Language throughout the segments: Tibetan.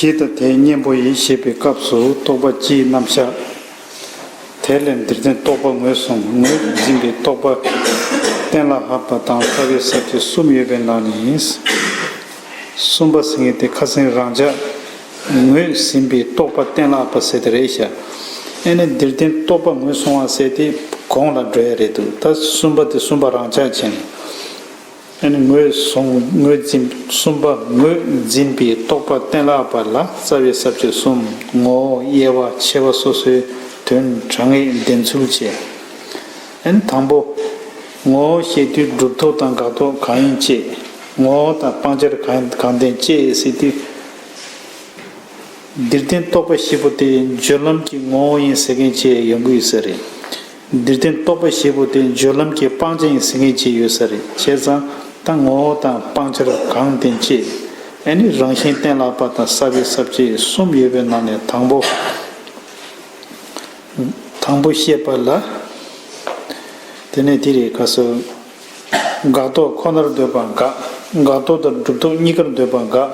ཞེས་དང་དེའི་གཉེན་པོ་ཡིན་ཞེས་པའི་སྐབས་སུ་རྟོག་པ་སྤྱིའི་རྣམ་གཞག། དེར་ལན་འདིར་བརྟེན་རྟོག་པ་ངོས་བཟུང་ངོས་ཀྱིས་འཛིན་པའི་རྟོག་པ། གཏན་ལ་ལྷག་པ་དང་ལྟ་བའི་ཟབ་ཆོས་གསུམ་ཡོད་པའི་ནང་ནས་ཡིན། གསུམ་པ་ཟེར་ངེས་དེ་ཁ་སེང་རང་ཅག་ངོས་ཟིན་པའི་རྟོག་པ་གཏན་ལ་ལྷག་པ་ཟེར་ཏེ་རེད་བྱ། ཨེ་ནས་འདིར་བརྟེན་རྟོག་པ་ངོས་བཟུང་བ་ཟེར་ཏེ་གོང་ལ་འགྲོ་ཡ་རེད་འདུག་ད་གསུམ་པ་དེ་གསུམ་པ་རང་ཅག་བྱས་ནས། ངོས་བཟུང་ངོས་འཛིན་གསུམ་པ་ངོས་འཛིན་པའི་རྟོག་པ་གཏན་ལ་བར་ལ་རྩ་བའི་ཟབ་ཆོས་གསུམ་ངོ་བོ་དབྱེ་བ་ཕྱེ་བ་སོ་སོའི་དོན་དྲང་ངེས་བདེན་ཚུལ་བཅས། དང་པོ། ངོ་བོ་ཤེས་དུས་གྲུབ་ཐོབ་དང་དགག་ཐོབ་གང་ཡིན་དཔྱད། ངོ་བོ་དང་སྤང་བྱར་གང་བདེན་དཔྱད་སྲིད་དུས། འདིར་བསྟན་རྟོག་པ་བཞི་པོ་དེ་སྦྱོར་ལམ་གྱི་ངོ་བོ་ཡིན་ཟེར་མཁན་བཅས་ཡོང་གི་ཡོད་ས་རེད། འདིར་བསྟན་རྟོག་པ་བཞི་པོ་དེ་སྦྱོར་ལམ་གྱི་སྤང་བྱ་ཡིན་ཟེར་མཁན་གཅིག་ཡོད་ས་རེད་བྱས་ཙང་ད་ངོ་བོ་དང་སྤང་བྱར་གང་བསྟན་ཅེས་ཨེ་ནི་རང་བཞིན་གཏན་ལགས་པ་དང་ས་བོན་ཟབ་ཅེས་གསུམ་ཡོད་པའི་ནང་ནས་དང་པོ། དང་པོ་བཤད་པ་ལ། དེ་ནས་དེ་རེད་ག་སོ། འགག་རྟོག་ཁོ་ནར་འདོད་པ་འགག། འགག་རྟོག་དང་སྒྲུབ་རྟོག་གཉིས་ཀར་འདོད་པ་འགག།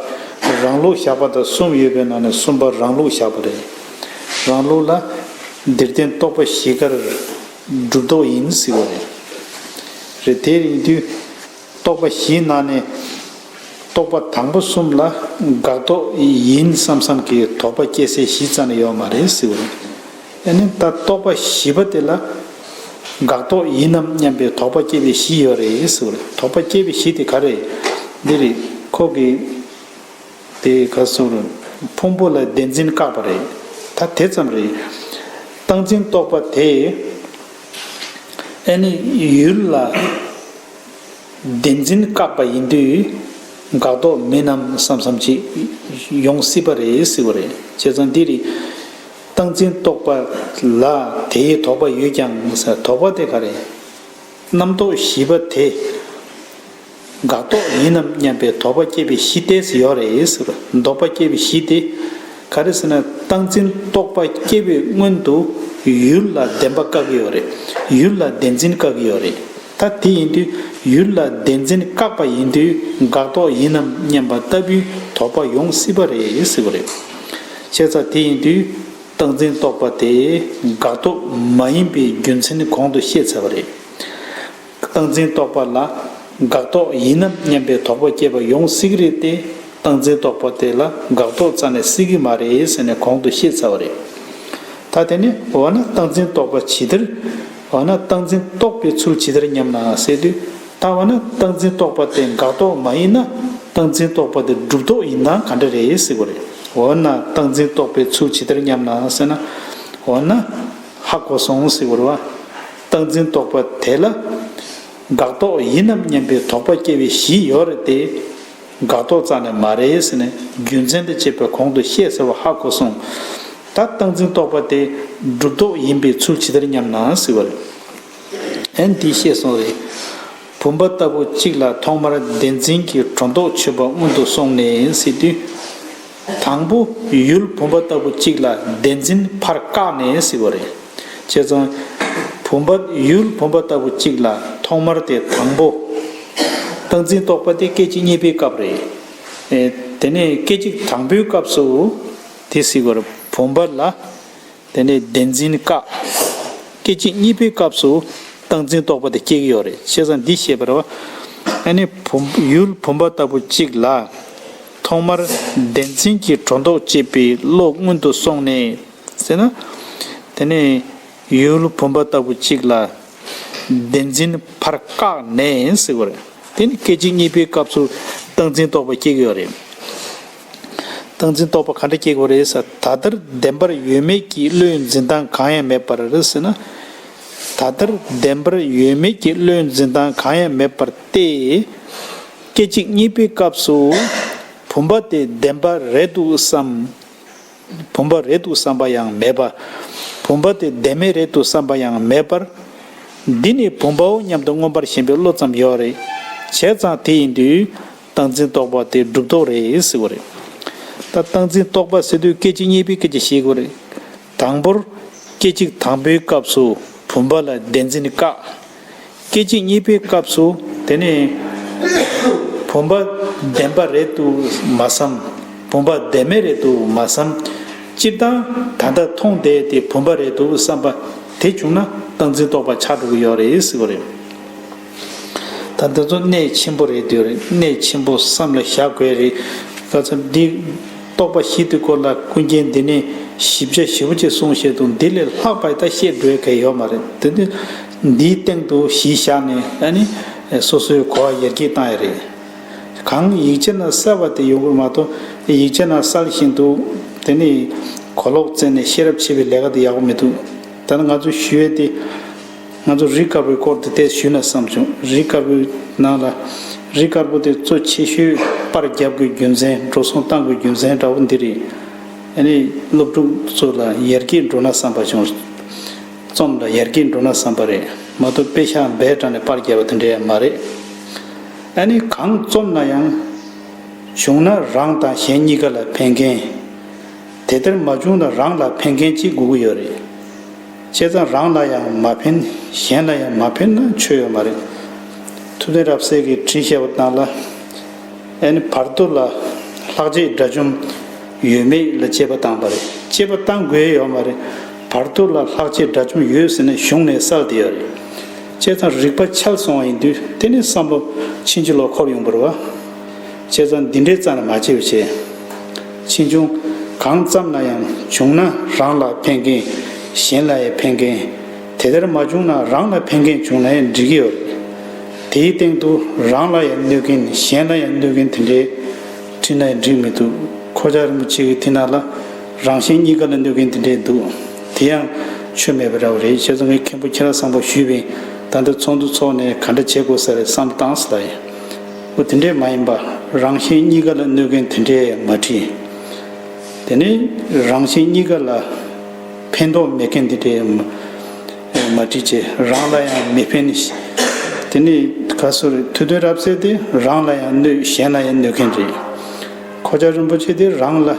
རང་ལུགས་བཞག་པ་དང་གསུམ་ཡོད་པའི་ནང་ནས་གསུམ་པ་རང་ལུགས་བཞག་པ་རེད། རང་ལུགས་ལ། འདིར་བརྟེན་རྟོག་པ་བཞི་ཀར། སྒྲུབ་རྟོག་ཡིན་ཟེར་བ་རེད། རེད་དེ་ཡིན་དུས། རྟོག་པ་བཞིའི་ནང་ནས། རྟོག་པ་དང་པོ་གསུམ་ལ། འགག་རྟོག་ཡིན་བསམ་བསམ་གྱིས་དོགས་པ་སྐྱེ་སའི་གཞི་རྩ་ནས་ཡོད་མ་རེད་ཟེར་བ་རེད། ཡང་ན་ད་རྟོགས་པ་བཞི་པ་དེ་ལ་དགག་རྟོག་ཡིན་ནམ་སྙམ་པའི་དོགས་པ་སྐྱེ་བའི་གཞི་ཡོད་རེད་ཟེར་བ་རེད་དོགས་པ་སྐྱེ་བའི་གཞི་དེ་ག་རེད། འདི་རེད། ཁོ་གིས་དེ་ག་སོང་རེད། ཕུང་པོ་ལ་བདེན་འཛིན་བཀག་པ་རེད། ད་དེ་ཙམ་རེད། སྟངས་འཛིན་རྟོག་པ་དེས་ཨེ་ནི་ཡུལ་ལ་བདེན་འཛིན་བཀག་པ་ཡིན་དུས་དགག་རྟོག་མིན་ནམ་བསམ་བསམ་ཅིག་ཡོང་སྲིད་པ་རེད་ཟེར་བ་རེད་བྱས་ཙང་འདི་རེད། སྟངས་འཛིན་རྟོག་པ་ལ་དེའི་དོགས་པ་ཡོད་ཀྱང་དོགས་པ་དེ་ག་རེ། རྣམ་རྟོག་བཞི་པ་དེ། འགག་རྟོག་ཡིན་ནམ་སྙམ་པའི་དོགས་པ་སྐྱེ་བའི་གཞི་དེ་སུ་ཡོད་རེད། དོགས་པ་སྐྱེ་བའི་གཞི་དེ། ག་རེ་ཟེར་ན་སྟངས་འཛིན་རྟོག་པ་སྐྱེ་བའི་སྔོན་དུ། ཡུལ་ལ་བདེན་པ་བཀག་གི་ཡོད་རེད། ཡུལ་ལ་བདེན་འཛིན་བཀག་གི་ཡོད་རེད། ད་དེ་ཡིན་དུས་ཡུལ་ལ་བདེན་འཛིན་བཀག་པ་ཡིན་དུས་འགག་རྟོག་ཡིན་ནམ་སྙམ་པ་ལྟ་བུའི་དོགས་པ་ཡོང་སྲིད་པ་རེད། བཤད་ཚ་དེ་ཡིན་དུས་སྟངས་འཛིན་རྟོག་པ་དེ་དགག་རྟོག་མ་ཡིན་པའི་རྒྱུ་མཚན་གོང་དུ་བཤད་ཚར་བ་རེད། སྟངས་འཛིན་རྟོག་པ་ལ་དགག་རྟོག་ཡིན་ནམ་སྙམ་པའི་དོགས་པ་སྐྱེས་པ་ཡོང་སྲིད་གི་རེད་དེ་སྟངས་འཛིན་རྟོག་པ་དེ་ལ་དགག་རྟོག་རྩ་ནས་སྲིད་གི་མ་རེད་ཟེར་ནས་གོང་དུ་བཤད་ཚར་བ་རེད། ད་དེ་ནས་འོ་ན་སྟངས་འཛིན་རྟོག་པ་ཇི་ལྟར། འོ་ན་སྟངས་འཛིན་རྟོག་པའི་ཚུལ་ཇི་ལྟར་སྙམ་ན་བསལ་དུས། ལྟ་བ་ནི་བཏགས་འཛིན་རྟོག་པ་དེ་འགག་རྟོག་མ་ཡིན་ན་བཏགས་འཛིན་རྟོག་པ་དེ་སྒྲུབ་རྟོག་ཡིན་ད་ག་འདྲ་རེད་ཟེར་གོ་རེད་འོ་ན་བཏགས་འཛིན་རྟོག་པའི་ཚུལ་ཇི་ལྟར་སྙམ་ན་ཟེར་ན། འོ་ན། ཧ་གོ་སོང་ཟེར་གོ་རེད། བཏགས་འཛིན་རྟོག་པ་དེ་ལ། འགག་རྟོག་ཡིན་ནམ་སྙམ་པའི་དོགས་པ་སྐྱེ་བའི་གཞི་ཡོད་རེད་དེ། འགག་རྟོག་རྩ་ནས་མ་རེད་ཟེར་ནས་རྒྱུ་མཚན་དང་བཅས་པའི་གོང་དུ་བཤད་ཟེར་བ་ཧ་གོ་སོང། ད་བཏགས་འཛིན་རྟོག་པ་དེ་སྒྲུབ་རྟོག་ཡིན་པའི་ཚུལ་ཇི་ལྟར་སྙམ་ན་ཟེར་བ་རེད། ཨན་འདིས་ཤེས་སོང་རེད། བུམ་པ་ལྟ་བུ་གཅིག་ལ་ཐོག་མར་བདེན་འཛིན་གྱི་གྲོ་མདོག་མཆོད་པ་སྔོན་དུ་སོང་ནས་ཡིན་སྲིད་དུས། དང་པོ་ཡུལ་བུམ་པ་ལྟ་བུ་གཅིག་ལ་བདེན་འཛིན་ཕར་བཀག་ནས་ཡིན་སྲིད་པ་རེད། བྱས་ཙང། བུམ་པ་ཡུལ་བུམ་པ་ལྟ་བུ་གཅིག་ལ་ཐོག་མར་དེ་དང་པོ། སྟངས་འཛིན་རྟོགས་པ་དེ་སྐད་ཅིག་གཉིས་པའི་སྐབས་རེད། དེ་ནས་སྐད་ཅིག་དང་པོའི་སྐབས་སུ། དེ་སྲིད་པར་བུམ་པ་ལ། དེ་ནས་བདེན་འཛིན་བཀག། སྐད་ཅིག་གཉིས་པའི་སྐབས་སུ་བཏང་འཛིན་རྟོག་པ་དེ་སྐྱེ་གི་ཡོད་རེད་བྱས་ཙང་འདི་ཤེས་པར། ཨ་ནི་བུམ་ཡུལ་བུམ་པ་ལྟ་བུ་གཅིག་ལ། ཐོག་མར་བདེན་འཛིན་གྱི་སྒྲོ་འདོགས་བཅད་པའི་བློ་སྔོན་དུ་སོང་ནས། ཟེར་ན། དེ་ནས་ཡུལ་བུམ་པ་ལྟ་བུ་གཅིག་ལ། བདེན་འཛིན་ཕར་བཀག་ནས་ཟེར་བར། དེ་ནི་སྐད་ཅིག་གཉིས་པའི་སྐབས་སུ་བཏང་འཛིན་རྟོག་པ་སྐྱེ་གི་ཡོད་རེད། སྟངས་འཛིན་རྟོག་པ་ག་འདྲ་སྐྱེ་དགོས་རེད་ཟེར་ད་ལྟར་བདེན་པར་ཡོད་མེད་ཀྱི་བློའི་འཛིན་སྟངས་གང་ཡང་མེད་པར་རེད་ཟེར་ན། ད་ལྟར་བདེན་པར་ཡོད་མེད་ཀྱི་བློའི་འཛིན་སྟངས་གང་ཡང་མེད་པར་ཏེ། སྐད་ཅིག་གཉིས་པའི་སྐབས་སུ། བུམ་པ་དེ་བདེན་པ་རེད་འདུག་བསམ། བུམ་པ་རེད་འདུག་བསམ་པ་ཡང་མེད་པ། བུམ་པ་དེ་བདེན་མེད་རེད་འདུག་བསམ་པ་ཡང་མེད་པར། འདི་ནི་བུམ་པའོ་སྙམ་དུ་མངོན་པར་ཞེན་པའི་བློ་ཙམ་ཡོད་རེད། བྱས་ཙང་དེ་ཡིན་དུས། སྟངས་འཛིན་རྟོག་པ་དེ་སྒྲུབ་རྟོག་རེད་ཟེར་བ་རེད། ད་སྟངས་འཛིན་རྟོག་པ་ཟེར་དུས་སྐད་ཅིག་གཉིས་པའི་སྐད་ཆ་བཤད་དགོས་རེད། དང་པོར། སྐད་ཅིག་དང་པོའི་སྐབས་སུ་བུམ་པ་ལ་བདེན་འཛིན་བཀག། སྐད་ཅིག་གཉིས་པའི་སྐབས་སུ་དེ་ནི། བུམ་པ་བདེན་པ་རེད་དུ་མ་བསམ། བུམ་པ་བདེན་མེད་རེད་དུ་མ་བསམ། སྤྱིར་བཏང་ད་ལྟ་མཐོང་བསྡད་དེ་བུམ་པ་རེད་དུ་བསམ་པ་དེ་བྱུང་ན་སྟངས་འཛིན་རྟོག་པ་ཆགས་འགྲོ་གི་ཡོད་རེད་ཟེར་བ་རེད། ད་འདི་ཚོ་གནད་ཆེན་པོ་རེད་དུས་རེད་གནད་ཆེན་པོ་བསམ་ལ་བཞག་དགོས་རེད་ག་ཚོད་འདི། རྟོག་པ་བཞི་དེ་སྐོར་ལ་ཀུན་མཁྱེན་འདི་ནས་ཞིབ་ཆ་ཞེ་བོ་ཅིག་གསུང་བཤད་དུ་འདི་ལས་ལྷག་པའི་ད་བཤད་དགོས་གལ་ཡོད་མ་རེད་དེ་དུས་འདིའི་སྟེང་དུ་གཞི་བཞག་ནས་ཨ་ནི། སོ་སོའི་གོ་བ་ཡར་རྒྱས་བཏང་ཡ་རེད། གང་ཡིག་ཆ་ན་གསལ་བ་དེ་ཡོང་གི་མ་གཏོགས་ཡིག་ཆ་ན་གསལ་བཞིན་དུ། དེ་ནི། གོ་ལོག་བཙལ་ནས་ཤེས་རབ་ཕྱེ་བའི་ལས་ཀ་དེ་ཡག་པོ་མི་འདུག་ད་ནི་ང་ཚོས་ཞུ་ཡས་དེ། ང་ཚོ་རི་དཀར་པོའི་སྐོར་དེ་ལྟས་ཞུས་ན་བསམ་བྱུང་རི་དཀར་པོའི་ནང་ལ། རི་དཀར་པོ་དེ་གཙོ་ཆེ་ཤོས་པར་བརྒྱབ་དགོས་རྒྱུ་མཚན་འགྲོ་སོང་བཏང་དགོས་རྒྱུ་མཚན་འདྲ་བོ་འདི་རེད། ཨ་ནི་སློབ་ཕྲུག་ཚོ་ལ་ཡར་རྒྱས་འགྲོ་ན་བསམ་པ་བྱུང། རྩོམ་ལ་ཡར་རྒྱས་འགྲོ་ན་བསམ་པ་རེད་མ་གཏོགས་དཔེ་ཤག་འབའ་དྲ་ནས་པར་བརྒྱབ་པ་དེ་འདྲ་ཡང་མ་རེད། ཨ་ནི་གང་རྩོམ་ན་ཡང། བྱུང་ན་རང་དང་གཞན་གཉིས་ཀ་ལ་ཕན་མཁན། དེ་ལྟར་མ་བྱུང་ན་རང་ལ་ཕན་མཁན་གཅིག་དགོས་ཀྱི་ཡོད་རེད། བྱས་ཙང་རང་ལ་ཡང་མ་ཕན་གཞན་ལ་ཡང་མ་ཕན་ན་ཆོས་ཡོད་མ་རེད། ཐུབ་བསྟན་རབ་གསལ་གྱི་དྲིན་ཤེས་པ་རྣམས་ལ་ཨེ་ནི་བར་དོ་ལ་ལྷག་རྗེས་དགྲ་བཅོམ་ཡོད་མེད་ལ་དཔྱད་པ་བཏང་པ་རེད་དཔྱད་པ་བཏང་དགོས་ཡོད་མ་རེད་བར་དོ་ལ་ལྷག་རྗེས་དགྲ་བཅོམ་ཡོད་ཟེར་ན་གཞུང་ནས་གསལ་བསྡད་ཡོད་རེད་བྱས་ཙང་རིག་པ་འཆལ་སོང་བ་ཡིན་དུས་དེ་ནས་བསམ་བློ་ཕྱིན་ཅི་ལོག་འཁོར་ཡོང་བར་བ། བྱས་ཙང་འདི་འདྲའི་རྩ་ནས་མ་བྱེད་པའི་ཆེད། ཕྱིས་འབྱུང་གང་ཙམ་ན་ཡང་བྱུང་ན་རང་ལ་ཕན་གིན་གཞན་ལ་ཡང་ཕན་གིན། དེ་ལྟར་མ་བྱུང་ན་རང་ལ་ཕན་གིན་བྱུང་ན་ཡང་འགྲིག་གི་ཡོད་རེད། དེའི་སྟེང་དུ་རང་ལ་ཡང་གནོད་གིན་གཞན་ལ་ཡང་གནོད་གིན་དེ་འདྲའི་ཁྲིད་ན་ཡང་འགྲིག་མི་འདུག་ཁོ་ཅག་རིན་པོ་ཆེ་གི་ཐིག་ནག་ལ་རང་གཞན་གཉིས་ཀ་ལ་གནོད་གིན་དེ་འདྲའི་འདུག་དེ་ཡང་ཆོས་མེད་པ་འདྲ་བོ་རེད་བྱས་ཙང་ངའི་མཁན་པོ་ཁྱེད་རང་བཟང་པོ་ཞུས་པའི་ད་ལྟ་ཚོགས་འདུ་ཚོགས་ནས་ག་འདྲ་བྱེད་དགོས་ས་རེད་བསམ་སྟངས་སླ་ཡིན། པོ་དེ་འདྲས་མ་ཡིན་པ་རང་གཞན་གཉིས་ཀ་ལ་གནོད་མཁན་དེ་འདྲས་མ་བྲིས། དེ་ནས་རང་གཞན་གཉིས་ཀ་ལ་ཕན་ཐོགས་མེད་མཁན་དེ་འདྲས་མ་བྲིས་ཀྱི་རང་ལ་ཡང་མི་ཕན། དེ་ནས་ག་སོར་དུས་དོན་རབ་གསལ་དེ་རང་ལ་ཡང་གནོད་གཞན་ལ་ཡང་གནོད་མཁན་རེད། ཁོ་ཅག་རིན་པོ་ཆེ་དེ་རང་ལ་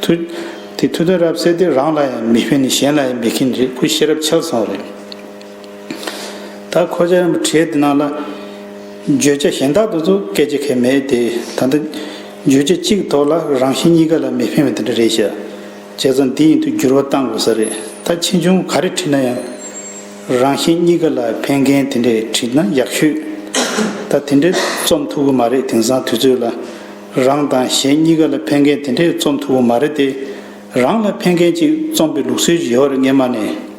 དུས་དོན་རབ་གསལ་དེ་རང་ལ་ཡང་མི་ཕན་གཞན་ལ་ཡང་མི་ཕན་རེད་ཁོ་ཤེས་རབ་འཆལ་སོང་རེད། ད་ཁོ་ཅག་རིན་པོ་ཆེའི་འདི་ནང་ལ། བརྗོད་བྱ་གཞན་དག་ཏུ་ཚུ་སྐད་ཅིག་ཁས་མེད་དེ། ད་ལྟ། བརྗོད་བྱ་གཅིག་ཐོག་ལ་རང་བཞིན་གཉིས་ཀ་ལ་མི་ཕན་བའི་འདི་འདྲ་རེད་བཤད། བྱས་ཙང་འདི་ཡིན་དུ་འགྱུར་བ་གཏང་དགོས་ས་རེད་ད་ཕྱིས་འབྱུང་ག་རེ་བྲིས་ན་ཡང། རང་བཞིན་གཉིས་ཀ་ལ་ཕན་མཁན་དེ་འདྲས་བྲིས་ན་ཡག་ཤོས། ད་དེ་འདྲས་རྩོམ་ཐུབ་གི་མ་རེད་དེང་སང་དུས་ཚོད་ལ། རང་དང་གཞན་གཉིས་ཀ་ལ་ཕན་མཁན་དེ་འདྲས་རྩོམ་ཐུབ་གི་མ་རེད་དེ། རང་ལ་ཕན་མཁན་ཅིག་རྩོམ་པའི་ལུགས་སྲོལ་གྱི་ཡོད་རེད་སྔས་མ་ནས།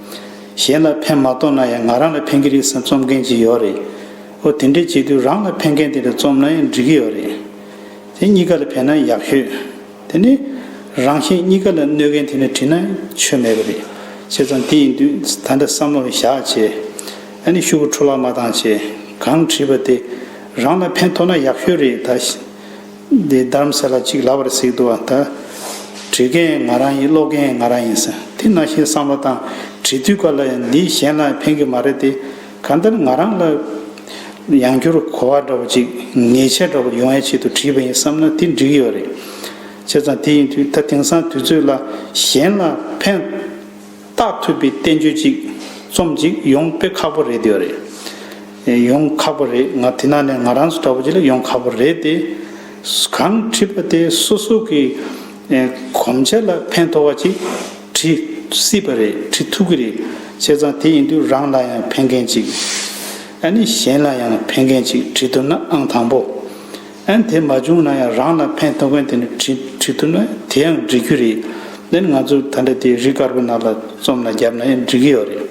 གཞན་ལ་ཕན་མ་ཐོག་ན་ཡང་ང་རང་ལ་ཕན་གྱི་རེད་བསམ་རྩོམ་མཁན་ཅིག་ཡོད་རེད། ཨོ་དེ་འདྲས་བྱེད་དུས་རང་ལ་ཕན་མཁན་དེ་འདྲ་རྩོམ་ན་ཡང་འགྲིག་གི་ཡོད་རེད། དེ་གཉིས་ཀ་ལ་ཕན་ན་ཡག་ཤོས་དེ་ནི། རང་གཞན་གཉིས་ཀ་ལ་གནོད་མཁན་དེ་འདྲ་བྲིས་ན་ཆོས་མེད་པ་རེད། བྱས་ཙང་དེ་ཡིན་དུས་ད་འདྲ་བསམ་བློ་བཞག་བྱས། ཨ་ནི་ཤུ་བོ་འཕྲོ་བརླག་མ་བཏང་བྱས། གང་བྲིས་པ་དེ་རང་ལ་ཕན་ཐོག་ན་ཡག་ཤོས་རེད་ད། འདི་བདམས་ཟེར་ལ་གཅིག་ལབ་པར་གཟིགས་འདུག་ད། བྲིས་མཁན་ང་རང་ཡིན་ཀློག་མཁན་ང་རང་ཡིན་ཟེར་དེ་ན་ཞེས་བསམ་བློ་བཏང། བྲིས་དུས་ག་ལ་ཡིན་འདི་གཞན་ལ་ཕན་གི་མ་རེད་དེ། གང་ལྟར་ང་རང་ལ་ཡང་བསྒྱུར་གོ་བ་འདྲ་བོ་ཅིག་ངེས་ཆེ་འདྲ་བོ་ཡོང་བའི་ཆེད་དུ་བྲིས་པ་ཡིན་བསམ་ན་དེ་འགྲིག་གི་ཡོད་རེད། བྱས་ཙང་དེ་ཡིན་དུས་ད་དེང་སང་དུས་ཚོད་ལ་གཞན་ལ་ཕན། རྟགས་ཐུབ་པའི་བསྟན་བཅོས་ཅིག་རྩོམ་ཅིག་ཡོང་དཔེ་ཁག་པོ་རེད་དེ་རེད། ཡོང་ཁག་པོ་རེད་ང་དེ་ནང་ནས་ང་རང་སུ་འདྲ་པོ་ཅིག་ལ་ཡོང་ཁག་པོ་རེད་དེ། གང་བྲིས་པ་དེ་སོ་སོ་གི་གོམས་ཆ་ལ་ཕན་ཐོགས་པ་ཅིག་བྲིས་སྲིད་པ་རེད་བྲིས་ཐུབ་ཀྱི་རེད་བྱས་ཙང་དེ་ཡིན་དུས་རང་ལ་ཡང་ཕན་མཁན་ཅིག། ཨ་ནི་གཞན་ལ་ཡང་ཕན་མཁན་ཅིག་བྲིས་འདུག་ན་ཨང་དང་པོ། ཨན་དེ་མ་བྱུང་ན་ཡང་རང་ལ་ཕན་ཐོགས་མཁན་དེ་ནས་བྲིས་ཐུབ་ན་དེ་ཡང་འགྲིག་རྒྱུ་རེད། དེ་ནི་ང་ཚོ་ད་འདྲ་དེ་རི་དཀར་པོ་ནང་ལ་རྩོམ་ལ་བརྒྱབ་ན་ཡང་འགྲིག་གི་ཡོད་རེད།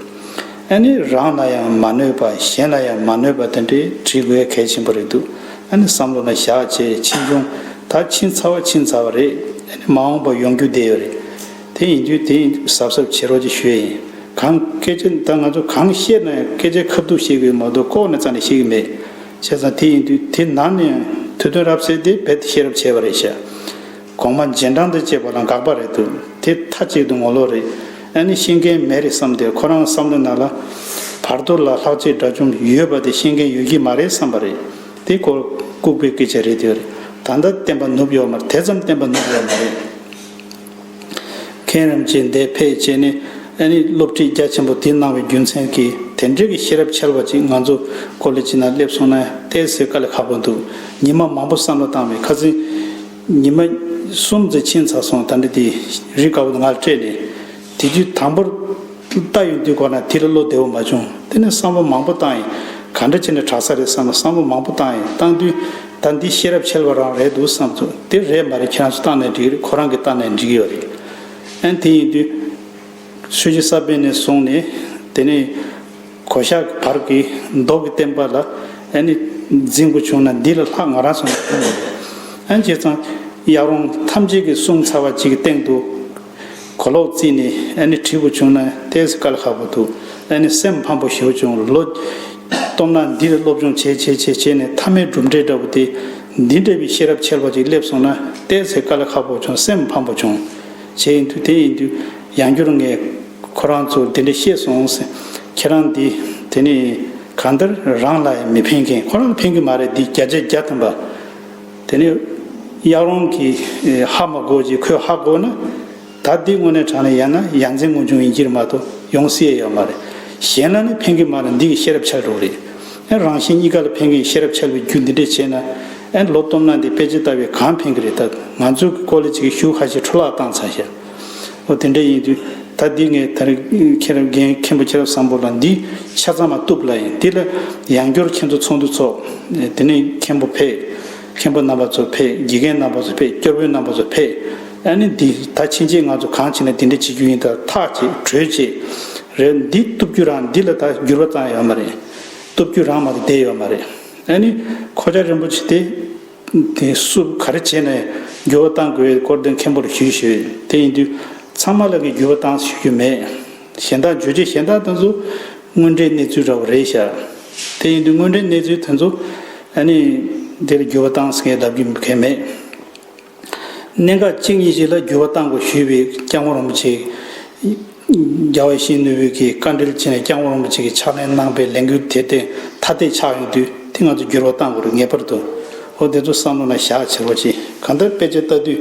ཨན་ནི་རང་ལ་ཡང་མ་གནོད་པ་གཞན་ལ་ཡང་མ་གནོད་པ་དེ་འདྲའི་བྲིས་དགོས་གལ་ཆེན་པོ་རེད་འདུག་ཨན་ནི་བསམ་བློ་ལ་བཞག་བྱས་ཕྱིན་ཅུང་ད་ཕྱིན་ཚར་བ་ཕྱིན་ཚར་བ་རེད་ཨན་ནི་མ་འོངས་པ་ཡོང་རྒྱུ་དེ་ཡོད་རེད། དེ་ཡིན་དུས་དེ་གཟབ་གཟབ་བྱེད་རོགས་ཀྱི་ཞུ་ཡ་ཡིན། གང་སྐད་ཆ་ད་ང་ཚོ་གང་བཤད་ན་ཡང་སྐད་ཆ་ཁ་བསྡུ་བྱེད་དགོས་མ་གཏོགས་ལྐོག་ནས་རྩ་ནས་བཤད་གི་མེད། བྱས་ཙང་དེ་ཡིན་དུས་དེ་ནང་ནས་དུས་སྟོན་རབས་གསལ་ཏེ་བེད་དུ་ཤེས་རབས་བྱས་པ་རེད་བཤད། གོང་མ་རྗེས་འབྲང་འདི་ཅེས་པ་ལ་དགག་པ་རེད་འདུག་དེ་མཐའ་གཅིག་ཏུ་ངོ་ལོག་རེད་ཨ་ནི་ཤེས་མཁན་མེད་རེད་བསམ་སྟེ་ཁོ་རང་བསམ་བློ་ན་ལ། བར་དོ་ལ་ལྷག་ཆད་འདྲ་ཅུང་ཡོད་པ་དེ་ཤེས་མཁན་ཡོད་ཀྱི་མ་རེད་བསམ་པ་རེད་དེ་སྐོར་ལྐུགས་པའི་སྐད་ཆ་རེད་དེ། ད་ལྟ་བསྟན་པ་ནུབ་ཡོག་མ་རེད་དེ་ཙམ་བསྟན་པ་ནུབ་ཡོག་མ་རེད། མཁན་རིན་པོ་ཆེ་འདས་ཕེབས་བཅས་ནས་ཨ་རིའི་སློབ་ཁྲིད་རྒྱ་ཆེན་པོ་དེ་གནང་བའི་རྒྱུ་མཚན་གྱིས་དེ་འབྲེལ་གྱི་ཤེས་རབ་འཆལ་བ་ཅིག་ང་ཚོ་ཀོ་ལི་ཅི་ན་སླེབས་སོང་ན་བལྟས་ཟེར་དཀའ་ལས་ཁག་པོ་འདུག་ཉི་མ་མང་པོ་བསམ་བློ་བཏང་བའི་ཁ་ཟས་ཉི་མ་གསུམ་ཟས་ཕྱིན་ཚར་སོང་ད་འདྲི་དེ་རིགས་དཀའ་བོ་ང་ལ་སྤྲད་ནས་དེ་རྒྱུད་དང་པོར། བལྟ་ཡོང་དུས་གོ་ན་དེ་ལ་བློ་བདེ་བོ་མ་བྱུང་དེ་ནས་བསམ་བློ་མང་པོ་བཏང་ཡིན་ག་འདྲ་བྱས་ནས་དྲག་ས་རེད་བསམ་ལ་བསམ་བློ་མང་པོ་བཏང་ཡིན་བཏང་དུས་ད་འདི་ཤེས་རབ་འཆལ་བ་རང་རེད་འདུག་བསམ་ཚུལ་དེ་རེད་མ་རེད་ཁྱེད་རང་ཚོ་བཏང་ནས་འགྲིག་རེད་ཁོ་རང་གི་བཏང་ནས་འགྲིག་ཡོད་རེད་ཨན་དེ་ཡིན་དུས་ཆོས་རྗེ་ས་པཎ་ནས་བཟུང་ནས་དེ་ནས་གོ་ཤག་གི་བར་གྱི་མདོ་གི་བསྟན་པ་ལ་ཨན་ནི་འཛིན་དགོས་བྱུང་ན་འདི་ལ་ལྷག་ང་རང་ཚོ་ནས་ཐོན་ཡོད་རེད་ཨན་བྱས་ཙང་ཡག་རུང་ཐམས་ཅད་ཀྱི་གསུང་ཚར་བ་གཅིག་གི་སྟེང་དུ། གོ་ལོག་རྩིས་ནས་ཨ་ནི་བྲིས་པོ་བྱུང་ན་བལྟས་ས་དཀའ་ལ་ཁག་པོ་འདུག་ཨ་ནི་སེམས་ཕམ་པོ་ཞུ་བྱུང་ལོ། སྟོབས་ན་འདིར་སློབ་སྦྱོང་བྱས་བྱས་བྱས་བྱས་ནས་མཐའ་མའི་གྲུབ་འབྲས་འདྲ་པོ་དེ། འདི་འདྲ་བའི་ཤེས་རབ་འཆལ་པ་ཅིག་སླེབས་སོང་ན་བལྟས་ཚེ་དཀའ་ལ་ཁག་པོ་བྱུང་སེམས་ཕམ་པོ་བྱུང། བྱས་ཡིན་དུས་དེ་ཡིན་དུས་ཡང་བསྐྱུར་ངས། ཁོ་རང་ཚོར་དེ་འདྲ་ཤེས་སོང་ཟེར། ཁྱེད་རང་འདི། དེ་ནི། གང་ལྟར་རང་ལ་ཡང་མི་ཕན་མཁན་ཁོ་རང་ལ་ཕན་གི་མ་རེད་འདི་བརྒྱ་ཆའི་བརྒྱ་ཐམ་པ། དེ་ནས་གཡག་རོང་གིས་ཧ་མ་གོ་ཅིག་ཁོས་ཧ་གོ་ན། ད་འདི་དངོས་གནས་དྲང་ནས་ཡ་ན་ཡ་མཚན་སྔོན་བྱུང་ཡིན་གྱིར་མ་གཏོགས་ཡོང་སྲིད་ཡ་ཡོད་མ་རེད། གཞན་ན་ནི་ཕན་གི་མ་རེད་འདི་ཡི་ཤེས་རབ་ཆགས་འགྲོ་རེད། ཨེ་རང་བཞིན་གཉིས་ཀ་ལ་ཕན་གི་ཤེས་རབ་ཆགས་པའི་རྒྱུ་འདི་འདྲས་བྱས་ན། ཨེ་ལོ་སྟོབས་ན་འདི་དཔེ་ཅི་ལྟ་བས་གང་ཕན་གི་རེད་ད་ང་ཚོའི་གི་ཀོ་ལེ་ཅིག་གི་ཞུགས་ཧ་ཞེ་འཕྲོ་བརླག་བཏང་ཚར་ཤག། ཨོ་དེ་འདྲ་ཡིན་དུས་ད་འདི་ངས་ད་རེ་ཁྱེད་རང་རྒན་མཁན་པོ་ཁྱེད་རབ་བཟང་པོ་ལ་འདི་ཆ་ཚང་མ་བཏུབ་ལ་ཡིན་འདི་ལ་ཡང་སྐྱོར་ཁྱེད་ཚོ་ཚོགས་འདུ་ཚོགས་དེ་ནས་མཁན་པོ་ཕེད་མཁན་པོ་རྣམ་པ་ཚོ་ཕེད་དགེ་རྒན་རྣམ་པ་ཚོ་ཕེད་སྐྱོར་དཔོན་རྣམ་པ་ཚོ་ཕེད་ཨ་ནི་འདི་ད་ཕྱིན་ཆད་ང་ཚོ་གང་བྱེད་ན་འདི་འདྲ་བྱེད་རྒྱུ་ཡིན་ད་ཐག་བྱེད་གྲོས་བྱེད་རེད་འདི་བཏུབ་རྒྱུ་རང་འདི་ལ་ད་འགྱུར་བ་ཙང་ཡོད་མ་རེད་བཏུབ་རྒྱུ་རང་མ་རེད་བསྡད་ཡོད་མ་རེད་ཨ་ནི་ཁོ་ཅག་རིན་པོ་ཆེ་དེ། དེ་སུབ་ག་རེ་བྱས་ནས་འགྱུར་བ་བཏང་དགོས་ཡོད་སྐོར་དེ་མཁན་པོར་ཞུས་ཞུས་ཡོད་དེ་ཡིན་དུས་ཚང་མ་ལ་གི་འགྱུར་བ་བཏང་ཞུ་རྒྱུ་མེད་གཞན་དག་བརྗོད་རྒྱུ་གཞན་དག་དེ་ཚོ་དངོས་འབྲེལ་གནས་ཚུལ་འདྲ་བོ་རེད་ཤག་དེ་ཡིན་དུས་དངོས་འབྲེལ་གནས་ཚུལ་དེ་ཚོ་ཨ་ནི་དེར་འགྱུར་བ་བཏང་ཟེར་མཁན་ལབ་རྒྱུ་གལ་མེད་གནད་འགག་གཅིག་གཉིས་ཞིག་ལ་འགྱུར་བ་བཏང་དགོས་ཞུས་པའི་སྐྱག་མོ་རོང་པོ་ཆེ། རྒྱལ་བ་ཞིང་ནུས་བོད་ཀྱི་བཀའ་དྲིན་ཆེ་ནས་སྐྱང་བོ་རིན་པོ་ཆེ་གིས་ཕྱག་ལེན་གནང་པའི་ལས་འགུལ་དེ་བརྟེན་ཐ་དད་ཆགས་ཡོང་དུས་དེ་ང་ཚོས་འགྱུར་བ་གཏང་དགོས་རིགས་ངེས་པར་འདུག་འོ་དེ་ཚོ་བསམ་བློ་ན་བཞག་བྱེད་པོ་ཅིག་གང་ལྟར་དཔེ་ཆ་ལྟ་དུས་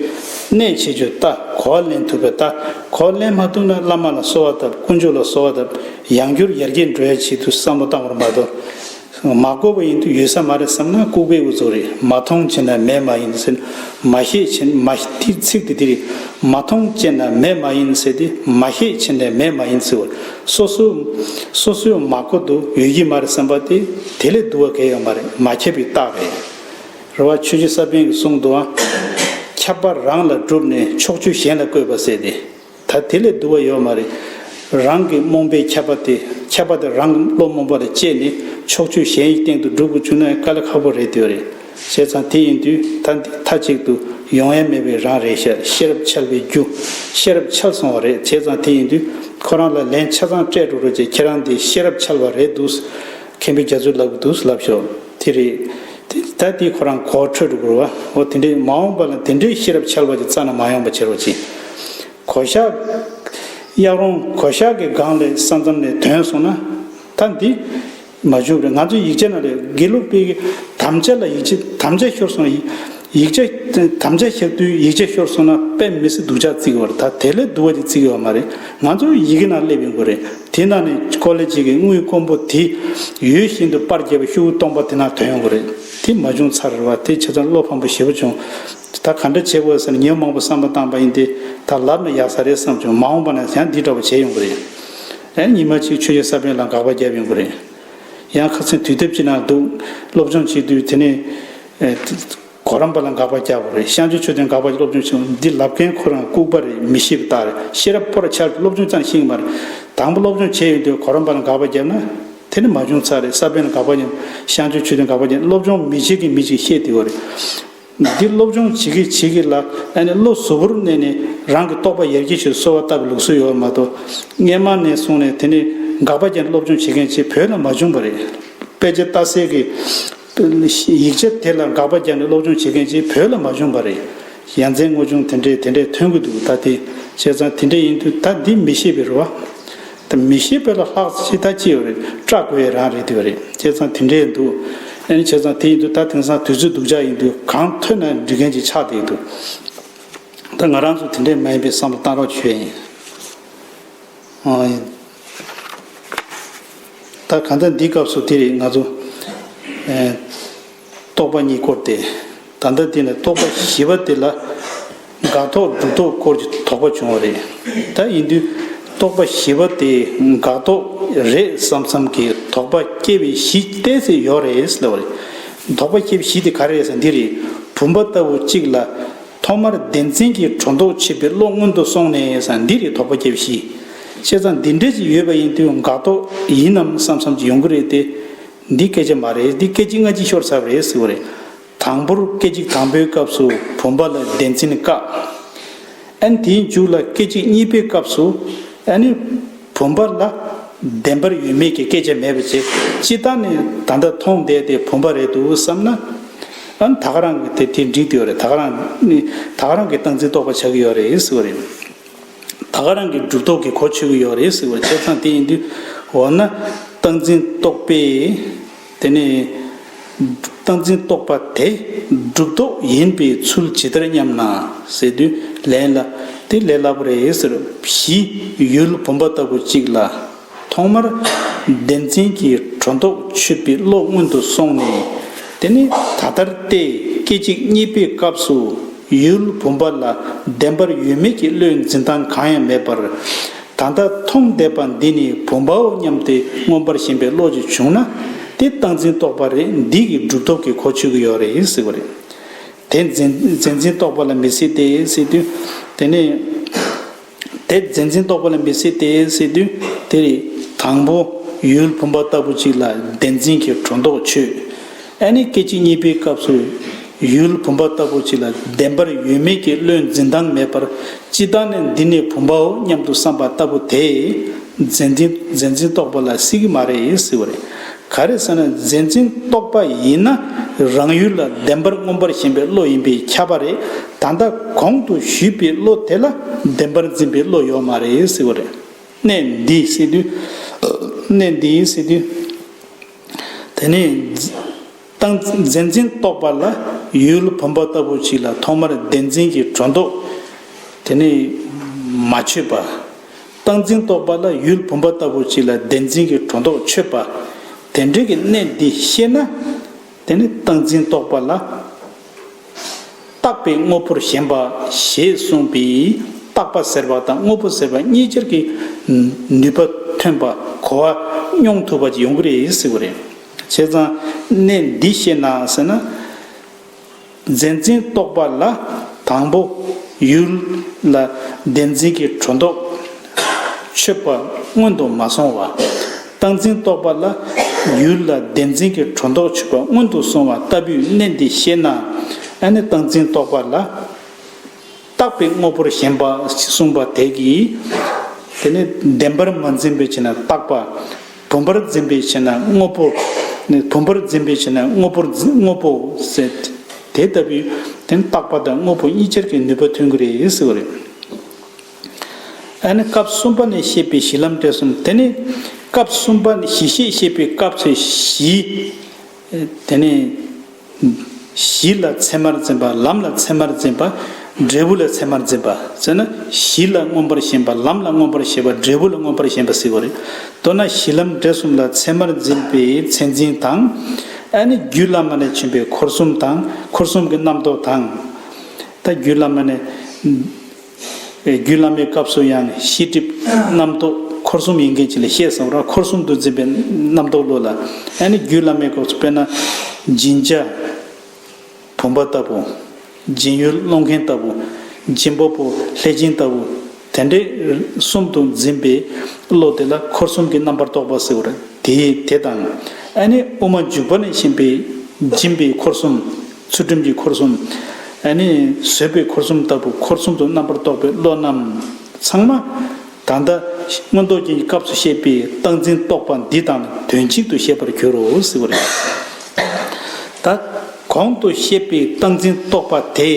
གནས་བྱེད་ཆུ་ལྟ་གོ་བ་ལེན་ཐུབ་པའི་ལྟ་གོ་བ་ལེན་མ་ཐུབ་ན་བླ་མ་ལ་གསོལ་བ་བཏབ་དཀོན་མཆོག་ལ་གསོལ་བ་བཏབ་ཡང་འགྱུར་ཡར་རྒྱས་འགྲོ་ཡ་བྱེད་དུས་བསམ་བློ་བཏང་བར་མ་གཏོགས། མ་བཀོད་པ་ཡིན་དུས་ཡོད་ས་མ་རེད་བསམ་ན་ལྐུགས་པའི་འུ་ཚོ་རེད་མ་མཐོང་ཅེ་ན་མེད་མ་ཡིན་ཟེར་མ་ཤེས་ཅེ་ན་མ་ཤེས་དེ་ཚིག་དེ་དེ་རེད་མ་མཐོང་ཅེ་ན་མེད་མ་ཡིན་ཟེར་དེ་མ་ཤེས་ཅེ་ན་མེད་མ་ཡིན་ཟེར་བ་སོ་སོ་སོ་སོའི་མ་བཀོད་དུ་ཡོད་ཀྱི་མ་རེད་བསམ་པ་དེ་དེ་ལས་བསྡུ་བ་གལ་ཡོད་མ་རེད་མ་ཁྱབ་པའི་རྟགས་རེད་རེད་བ་ཆོས་རྗེ་ས་པན་གྱི་གསུང་དུའང་ཁྱབ་པ་རང་ལ་བསྒྲུབས་ནས་ཕྱོགས་བཅུ་གཞན་ལ་བཀོད་པ་ཟེར་ཏེ། ད་དེ་ལས་བསྡུ་བ་ཡོད་མ་རེད། རང་གི་རྨོངས་པའི་ཁྱད་པར་དེ་ཁྱད་པར་དེ་རང་གི་བློ་རྨོངས་པ་ལ་སྤྱད་ནས་ཕྱོགས་ཆོས་གཞན་ཡི་སྟེང་དུ་སྒྲུབ་དགོས་བཅུག་ན་ཡང་དཀའ་ལས་ཁག་པོ་རེད་འདོད་རེད། བྱས་ཙང་དེ་ཡིན་དུས་ད་འདི་མཐའ་གཅིག་ཏུ་ཡོང་ཡ་མེད་པའི་རང་རེད་ཤ་ཤེས་རབ་འཆལ་བའི་རྒྱུ། ཤེས་རབ་འཆལ་སོང་བ་རེད་བྱས་ཙང་དེ་ཡིན་དུས་ཁོ་རང་ལ་ལན་ཆ་ཚང་སྤྲད་འགྲོ་རོགས་ཀྱི་ཁྱེད་རང་འདི་ཤེས་རབ་འཆལ་བ་རེད་འདུག། མཁན་པོའི་རྒྱ་མཚོའི་ལབ་གི་འདུག་ལབ་ཤོག། དེ་རེད། ད་དེ་ཁོ་རང་གོ་འཕྲོད་དུ་བསྐུར་བ། འོ་དེ་འདྲའི་མ་འོངས་པ་ལ་དེ་འདྲའི་ཤེས་རབ་འཆལ་བ་གྱི་རྩ་ན་མ་ཡོང་པ་བྱེད་རོགས་གྱིས། གོ་ཤག། གཡག་རོང་གོ་ཤག་གི་སྒང་ལས་ས་མཚམས་ནས་དོན་སོང་ན། ད་འདི། མ་བྱུང་རེད་ང་ཚོའི་ཡིག་ཆ་ན་རེད་དགེ་ལུགས་པའི་དམ་བཅའ་ལ་ཡིག་ཆ་དམ་བཅའ་ཤོར་སོང་ཡིན། ཡིག་ཆ། དམ་བཅའ་ཞབས་བསྡུས་ཡིག་ཆ་ཤོར་སོང་ན་དཔེ་མི་སྲིད་སྡུག་ཅག་བརྩིགས་བར་ད་དེ་ལས་སྡུག་བ་དེ་བརྩིགས་ཡོད་མ་རེད་ང་ཚོ་ཡི་གེ་ནང་སླེབས་ཡོང་གི་རེད་དེ་ནང་ནས་ཀོ་ལེ་གཅིག་གི་དངུལ་དཀོན་པོ་དེ་ཡོད་བཞིན་དུ་པར་བརྒྱབ་པའི་ཤོག་བུ་སྟོང་པ་དེ་ནང་དོན་ཡོང་གི་རེད་དེ་མ་བྱུང་ཚར་རེད་བ་དེ་བྱས་ཙང་བློ་ཕམ་པོ་ཞེ་པོ་བྱུང། ད་ག་འདྲ་བྱེད་དགོས་ཟེར་ནས་ཉིན་མང་པོ་བསམ་བློ་བཏང་པ་ཡིན་ཏེ་ད་ལབ་ན་ཡག་ས་རེད་བསམ་བྱུང་མ་འོངས་པ་ན་ཡང་འདི་འདྲ་བོ་བྱེད་ཡོང་གི་རེད། ཨེ་ཉི་མ་གཅིག་ཆོས་རྗེ་ས་པན་ལ་དགག་པ་བརྒྱབ་ཡོང་གི་རེད། ཡང་ཁ་ཚོན་དུས་དེབ་ཅིག་ནང་འདུག་སློབ་སྦྱོང་བྱེད་དུས་དེ་ནས། གོ་རམས་པ་ལ་འགག་པ་རྒྱག་པ་རེད་ཤངས་ཆོས་ཆོས་དོན་འགག་པ་སློབ་སྦྱོང་ཆེན་མོ་འདི་ལབ་མཁན་ཁོ་རང་ལྐུགས་པ་རེད་མི་ཤེས་པ་དག་རེད་ཤེས་རབ་ཕོར་ཆགས་ཀྱི་སློབ་སྦྱོང་ཙམ་ཤེས་ཀྱི་མ་རེད་དང་པོ་སློབ་སྦྱོང་བྱས་ཡོད་དུས་གོ་རམས་པ་ལ་འགག་པ་བརྒྱབ་ན་དེ་ནི་མ་བྱུང་ཚར་རེད་ས་པཎ་ལ་འགག་པ་བརྒྱབ་ཤངས་ཆོས་ཆོས་དོན་འགག་པ་བརྒྱབ་སློབ་སྦྱོང་མི་བྱེད་ཀྱི་མི་ཅིག་ཤེས་དེ་བོ་རེད་འདི་སློབ་སྦྱོང་བྱེད་ཀྱི་བྱེད་ཀྱི་ལ་ཨ་ནི་བློ་གཟུ་བོར་གནས་ནས་རང་གི་རྟོགས་པ་ཡར་རྒྱས་ཆེད་དུ་གསོལ་བ་བཏབ་པའི་ལུགས་སྲོལ་ཡོད་པ་མ་གཏོགས་སྔས་མ་ནས་སོང་ནས་དེ་ནི་འགག་པ་བརྒྱབ་ནས་སློབ་སྦྱོང་བྱེད་མཁན་ཆེད་བོད་ལ་མ་བྱུང་བ་རེད་དཔེ་ཆ་ལྟ་སའི་གི་ཡིག་ཆ་དེ་ལ་དགག་པ་རྒྱག་ནས་སློབ་སྦྱོང་བྱེད་མཁན་ཅིག་བོད་ལ་མ་བྱུང་བ་རེད། ཡ་མཚན་དངོས་བྱུང་དེ་འདྲས་དེ་འདྲས་ཐོན་གྱི་འདུག་ད་དེ་བྱས་ཙང་དེ་འདྲས་ཡིན་དུས་ད་འདི་མི་ཤེས་པའི་རུ་བ། ད་མི་ཤེས་པ་ལ་ལྷག་ཅིག་ད་ཅི་ཡོད་རེད་སྐྲག་དགོས་ཡས་རང་རེད་དུས་རེད་བྱས་ཙང་དེ་འདྲས་འདུག་ཨེ་བྱས་ཙང་དེ་ཡིན་དུས་ད་དེང་སང་དུས་ཚོད་སྡུག་ཅག་ཡིན་དུས་གང་ཐོས་ན་འབྲི་མཁན་ཅིག་ཆགས་བསྡད་འདུག་ད་ང་རང་ཚོ་དེ་འདྲས་མ་ཡིན་པའི་བསམ་བློ་བཏང་རོགས་བྱོས། ད་ག་ད་འདི་སྐབས་སུ་དེ་རིགས་ང་ཚོ། རྟོག་པ་གཉིས་སྐོར་ཏེ། ད་ལྟ་དེ་ནས་རྟོག་པ་བཞི་པ་དེ་ལ། དགག་རྟོག་སྒྲུབ་རྟོག་སྐོར་གྱི་དོགས་པ་བྱུང་བ་རེད། ད་ཡིན་དུས་རྟོག་པ་བཞི་པ་དེ་དགག་རྟོག་རེད་བསམ་བསམ་གྱི་དོགས་པ་སྐྱེ་བའི་གཞི་གཏད་སའི་ཡོག་རེད་ལབ་པ་རེད། དོགས་པ་སྐྱེ་བའི་གཞི་དེ་ག་རེད་ཟེར་ན་དེ་རེད། བུམ་པ་ལྟ་བུ་གཅིག་ལ། ཐོག་མར་བདེན་འཛིན་གྱི་སྒྲོ་འདོགས་ཆད་པའི་བློ་སྔོན་དུ་སོང་ནས་ས་འདི་རེད་དོགས་པ་བརྒྱབ་གཤིས། བཤད་ཚ་འདི་འདྲས་ཅིག་ཡོད་པ་ཡིན་དུས་འགག་ཐོག་ཡིན་ནམ་བསམ་བསམ་ཅིག་ཡོང་གི་རེད་དེ། འདི་སྐད་ཆ་མ་རེད་འདི་སྐད་ཅིག་སྔ་ཕྱི་ཤོར་ཚར་བ་རེད་ཟེར་བ་རེད། དང་པོར་སྐད་ཅིག་དང་པོའི་སྐབས་སུ་བུམ་པ་ལ་བདེན་འཛིན་བཀག། ཨན་དེའི་མཇུག་ལ་སྐད་ཅིག་གཉིས་པའི་སྐབས་སུ་ཨནི། བུམ་པ་ལ། བདེན་པར་ཡོད་མེད་ཀྱི་སྐད་ཆ་མེད་པ་ཅིག་ཅི་ལྟར་ནས་ད་ལྟ་མཐོང་བསྡད་དེ་བུམ་པ་རེད་འདུག་བསམ་ན། ཨང་ད་ག་རང་གི་དེ་དེ་འགྲིག་ཡོད་རེད་ད་ག་རང་ནི་ད་ག་རང་གི་སྟངས་འཛིན་རྟོགས་པ་ཆགས་ཀྱི་ཡོད་རེད་ཟེར་བ་རེད། ད་ག་རང་གི་སྒྲུབ་རྟོགས་ཀྱི་གོ་ཆོད་ཀྱི་ཡོད་རེད་ཟེར་བ་ཆ་ཚང་དེ་ཡིན་དུས་འོ་ན་སྟངས་འཛིན་རྟོགས་པས། དེ་ནི། བཏགས་འཛིན་རྟོག་པ་དེ་སྒྲུབ་རྟོག་ཡིན་པའི་ཚུལ་ཇི་ལྟར་སྙམ་ན། ཟེར་དུས་ལན་ལ། དེ་ལས་སླ་པོ་རེད་ཟེར། བཞི། ཡུལ་བུམ་པ་ལྟ་བུ་གཅིག་ལ། ཐོག་མར། བདེན་འཛིན་གྱི་གྲོ་མདོག་ཆུད་པའི་བློ་སྔོན་དུ་སོང་ནས། དེ་ནི་ད་ལྟར་ཏེ་སྐད་ཅིག་གཉིས་པའི་སྐབས་སུ། ཡུལ་བུམ་པ་ལ་བདེན་པར་ཡོད་མེད་ཀྱི་བློའི་འཛིན་སྟངས་གང་ཡང་མེད་པར། ད་ལྟ་མཐོང་བསྡད་པ་འདི་ནི་བུམ་པའོ་སྙམ་སྟེ་མངོན་པར་ཞེན་པའི་བློ་ཅིག་བྱུང་ན། དེ་བཏགས་འཛིན་རྟོག་པ་རེད་འདི་གི་སྒྲུབ་ཐོབ་ཀྱི་གོ་ཆོད་ཀྱི་ཡོད་རེད་ཟེར་བ་རེད། དེ་རྫས་འཛིན་རྟོག་པ་ལ་མི་སྲིད་དེ་སྲིད་དུས། དེ་ནས། དེ་རྫས་འཛིན་རྟོག་པ་ལ་མི་སྲིད་དེ་སྲིད་དུས་དེ་རེད། དང་པོ། ཡུལ་བུམ་པ་ལྟ་བུ་ཅིག་ལ་བདེན་འཛིན་གྱི་སྒྲོ་འདོགས་ཆོད། ཨ་ནི་སྐད་ཅིག་གཉིས་པའི་སྐབས་སུ་ཡུལ་བུམ་པ་ལྟ་བུ་ཅིག་ལ་བདེན་པར་ཡོད་མེད་ཀྱི་བློའི་འཛིན་སྟངས་མེད་པར་སྤྱི་བཏང་ནས་འདི་ནི་བུམ་པའོ་སྙམ་དུ་བསམ་པ་ལྟ་བུ་དེས་མཛེས་འཛིན་མཛེས་འཛིན་རྟོག་པ་ལ་སྲིད་ཀྱི་མ་རེད་ཟེར་བ་རེད། ག་རེ་ཟེར་ན་མཛེས་འཛིན་རྟོག་པ་ཡིན་ན་རང་ཡུལ་ལ་བདེན་པར་མངོན་པར་ཞེན་པའི་བློ་ཡིན་པས་ཁྱབ་པ་རེད་ད་ལྟ་གོང་དུ་ཞུས་པའི་བློ་དེ་ལ་བདེན་པར་འཛིན་པའི་བློ་ཡོད་མ་རེད་ཟེར་བ་རེད། གནད་འདིའི་སྲིད་དུས། དེ་ནས། ཏང་གཟན་འཛིན་གཏོགས་པ་ལ་ཡུལ་བུམ་པ་ལྟ་བུ་ཞིག་ལ་ཐོག་མར་བདེན་འཛིན་གྱི་གྲོས་འདོགས་དེ་ནས་མ་ཆོད་པ། ཏང་འཛིན་གཏོགས་པ་ལ་ཡུལ་བུམ་པ་ལྟ་བུ་ཞིག་ལ་བདེན་འཛིན་གྱི་གྲོས་འདོགས་ཆོད་པ། དེ་འབྲེལ་གྱི་གནད་འདི་ཤེས་ན། དེ་ནས་ཏང་འཛིན་གཏོགས་པ་ལ། བཏགས་པའི་དངོས་པོར་ཞེན་པ་ཞེས་གསུངས་པས་བཏགས་པ་ཟེར་བ་དང་དངོས་པོ་ཟེར་བ་གཉིས་ཅར་གྱི་ནུས་པ་ཐོན་པ་གོ་བ་སྙོམས་ཐུབ་པ་གཅིག་ཡོང་གི་རེད་ཟེར་བ་རེད། བྱས་ཙང་གནད་འདི་ཤེས་ན་ཟེར་ན། མཛེས་འཛིན་རྟོག་པ་ལ་དང་པོ་ཡུལ་ལ་བདེན་འཛིན་གྱི་དྲོ་འདོགས་མཆོད་པ་སྔོན་དུ་མ་སོང་བ། བཏང་འཛིན་རྟོག་པ་ལ་བསྒྱུར་ལ་བདེན་འཛིན་གྱི་གྲོ་མདོག་ཆུད་པ་སྔོན་དུ་སོང་བ་ལྟ་བུས་གནད་འདི་ཤེས་ན། ཨ་ནི་བཏང་འཛིན་རྟོག་པ་ལ་བཏགས་པའི་དངོས་པོར་ཞེན་པ་གསུངས་པ་དེ་གིས། དེ་ནི་བདེན་པར་མ་འཛིན་པའི་ཕྱིར་ན་བཏགས་པ། བུམ་པར་འཛིན་པའི་ཕྱིར་ན་དངོས་པོ། བུམ་པར་འཛིན་པའི་ཕྱིར་ན་དངོས་པོར་དངོས་པོ། དེ་ལྟ་བུས་དེ་ནི་བཏགས་པ་དང་དངོས་པོ་གཉིས་ཆར་གྱི་ནུས་པ་མཐུན་གྱི་རེད་ཟེར་བ་རེད། ཨ་ནི་སྐབས་གསུམ་པ་ནས་བཤད་པའི་གཞི་ལམ་འབྲས་གསུམ་དེ་ནི། སྐབས་གསུམ་པ་གཞི་ཤེས་བཤད་པའི་སྐབས་ཚེ་བཞི། དེ་ནས། གཞི་ལ་ཚད་མར་འཛིན་པ་ལམ་ལ་ཚད་མར་འཛིན་པ། འབྲས་བུ་ལ་ཚད་མར་འཛིན་པ་བཙལ་ན་གཞི་ལ་མངོན་པར་ཞེན་པ་ལམ་ལ་མངོན་པར་ཞེན་པ་འབྲས་བུ་ལ་མངོན་པར་ཞེན་པ་བསྲེ་བ་རེད། མདོར་ན་གཞི་ལམ་འབྲས་གསུམ་ལ་ཚད་མར་འཛིན་པའི་ཚད་འཛིན་དང། ཨ་ནི་རྒྱུད་བླ་མ་ལས་བྱོན་པའི་འཁོར་གསུམ་དང་འཁོར་གསུམ་གྱི་རྣམ་རྟོག་དང། ད་རྒྱུད་བླ་མ་ནས། རྒྱུད་བླ་མའི་སྐབས་སུ་ཡང་ཤེས་སྒྲིབ་རྣམ་རྟོག་འཁོར་གསུམ་ཡིན་མཁན་ཅི་ལ་ཤེས་བསམ་རང་འཁོར་གསུམ་དུ་འཛིན་པའི་རྣམ་རྟོག་བློ་ལ། ཡང་ནི་རྒྱུད་བླ་མའི་སྐབས་སུ་དཔེར་ན། སྦྱིན་བྱ་བུམ་པ་ལྟ་བུ། སྦྱིན་ཡུལ་སློང་མཁན་ལྟ་བུ། སྦྱིན་པ་པོ་ལྷས་སྦྱིན་ལྟ་བུ། དེ་འདྲའི་གསུམ་དུ་འཛིན་པའི་བློ་དེ་ལ་འཁོར་གསུམ་གྱི་རྣམ་པར་རྟོག་པ་ཟེར་བར་དེ་དེ་དང། ཡང་ནི་དབུ་མ་འཇུག་པ་ནས་བཞིན་པའི་སྦྱིན་པའི་འཁོར་གསུམ། ཚུལ་ཁྲིམས་ཀྱི་འཁོར་གསུམ། ཨ་ནི། བཟོད་པའི་འཁོར་གསུམ་ལྟ་བུ་འཁོར་གསུམ་དུ་རྣམ་པར་རྟོག་པའི་བློ་རྣམས། ཚང་མ། ད་ལྟ། མངོན་རྟོགས་རྒྱན་གྱི་སྐབས་སུ་བཤད་པའི་བཏགས་འཛིན་རྟོག་པ་འདི་དང་དོན་གཅིག་ཏུ་བཤད་པར་འགྱུར་རོ་ཟེར་བ་རེད། ད། གོང་དུ་བཤད་པའི་བཏགས་འཛིན་རྟོག་པ་དེ།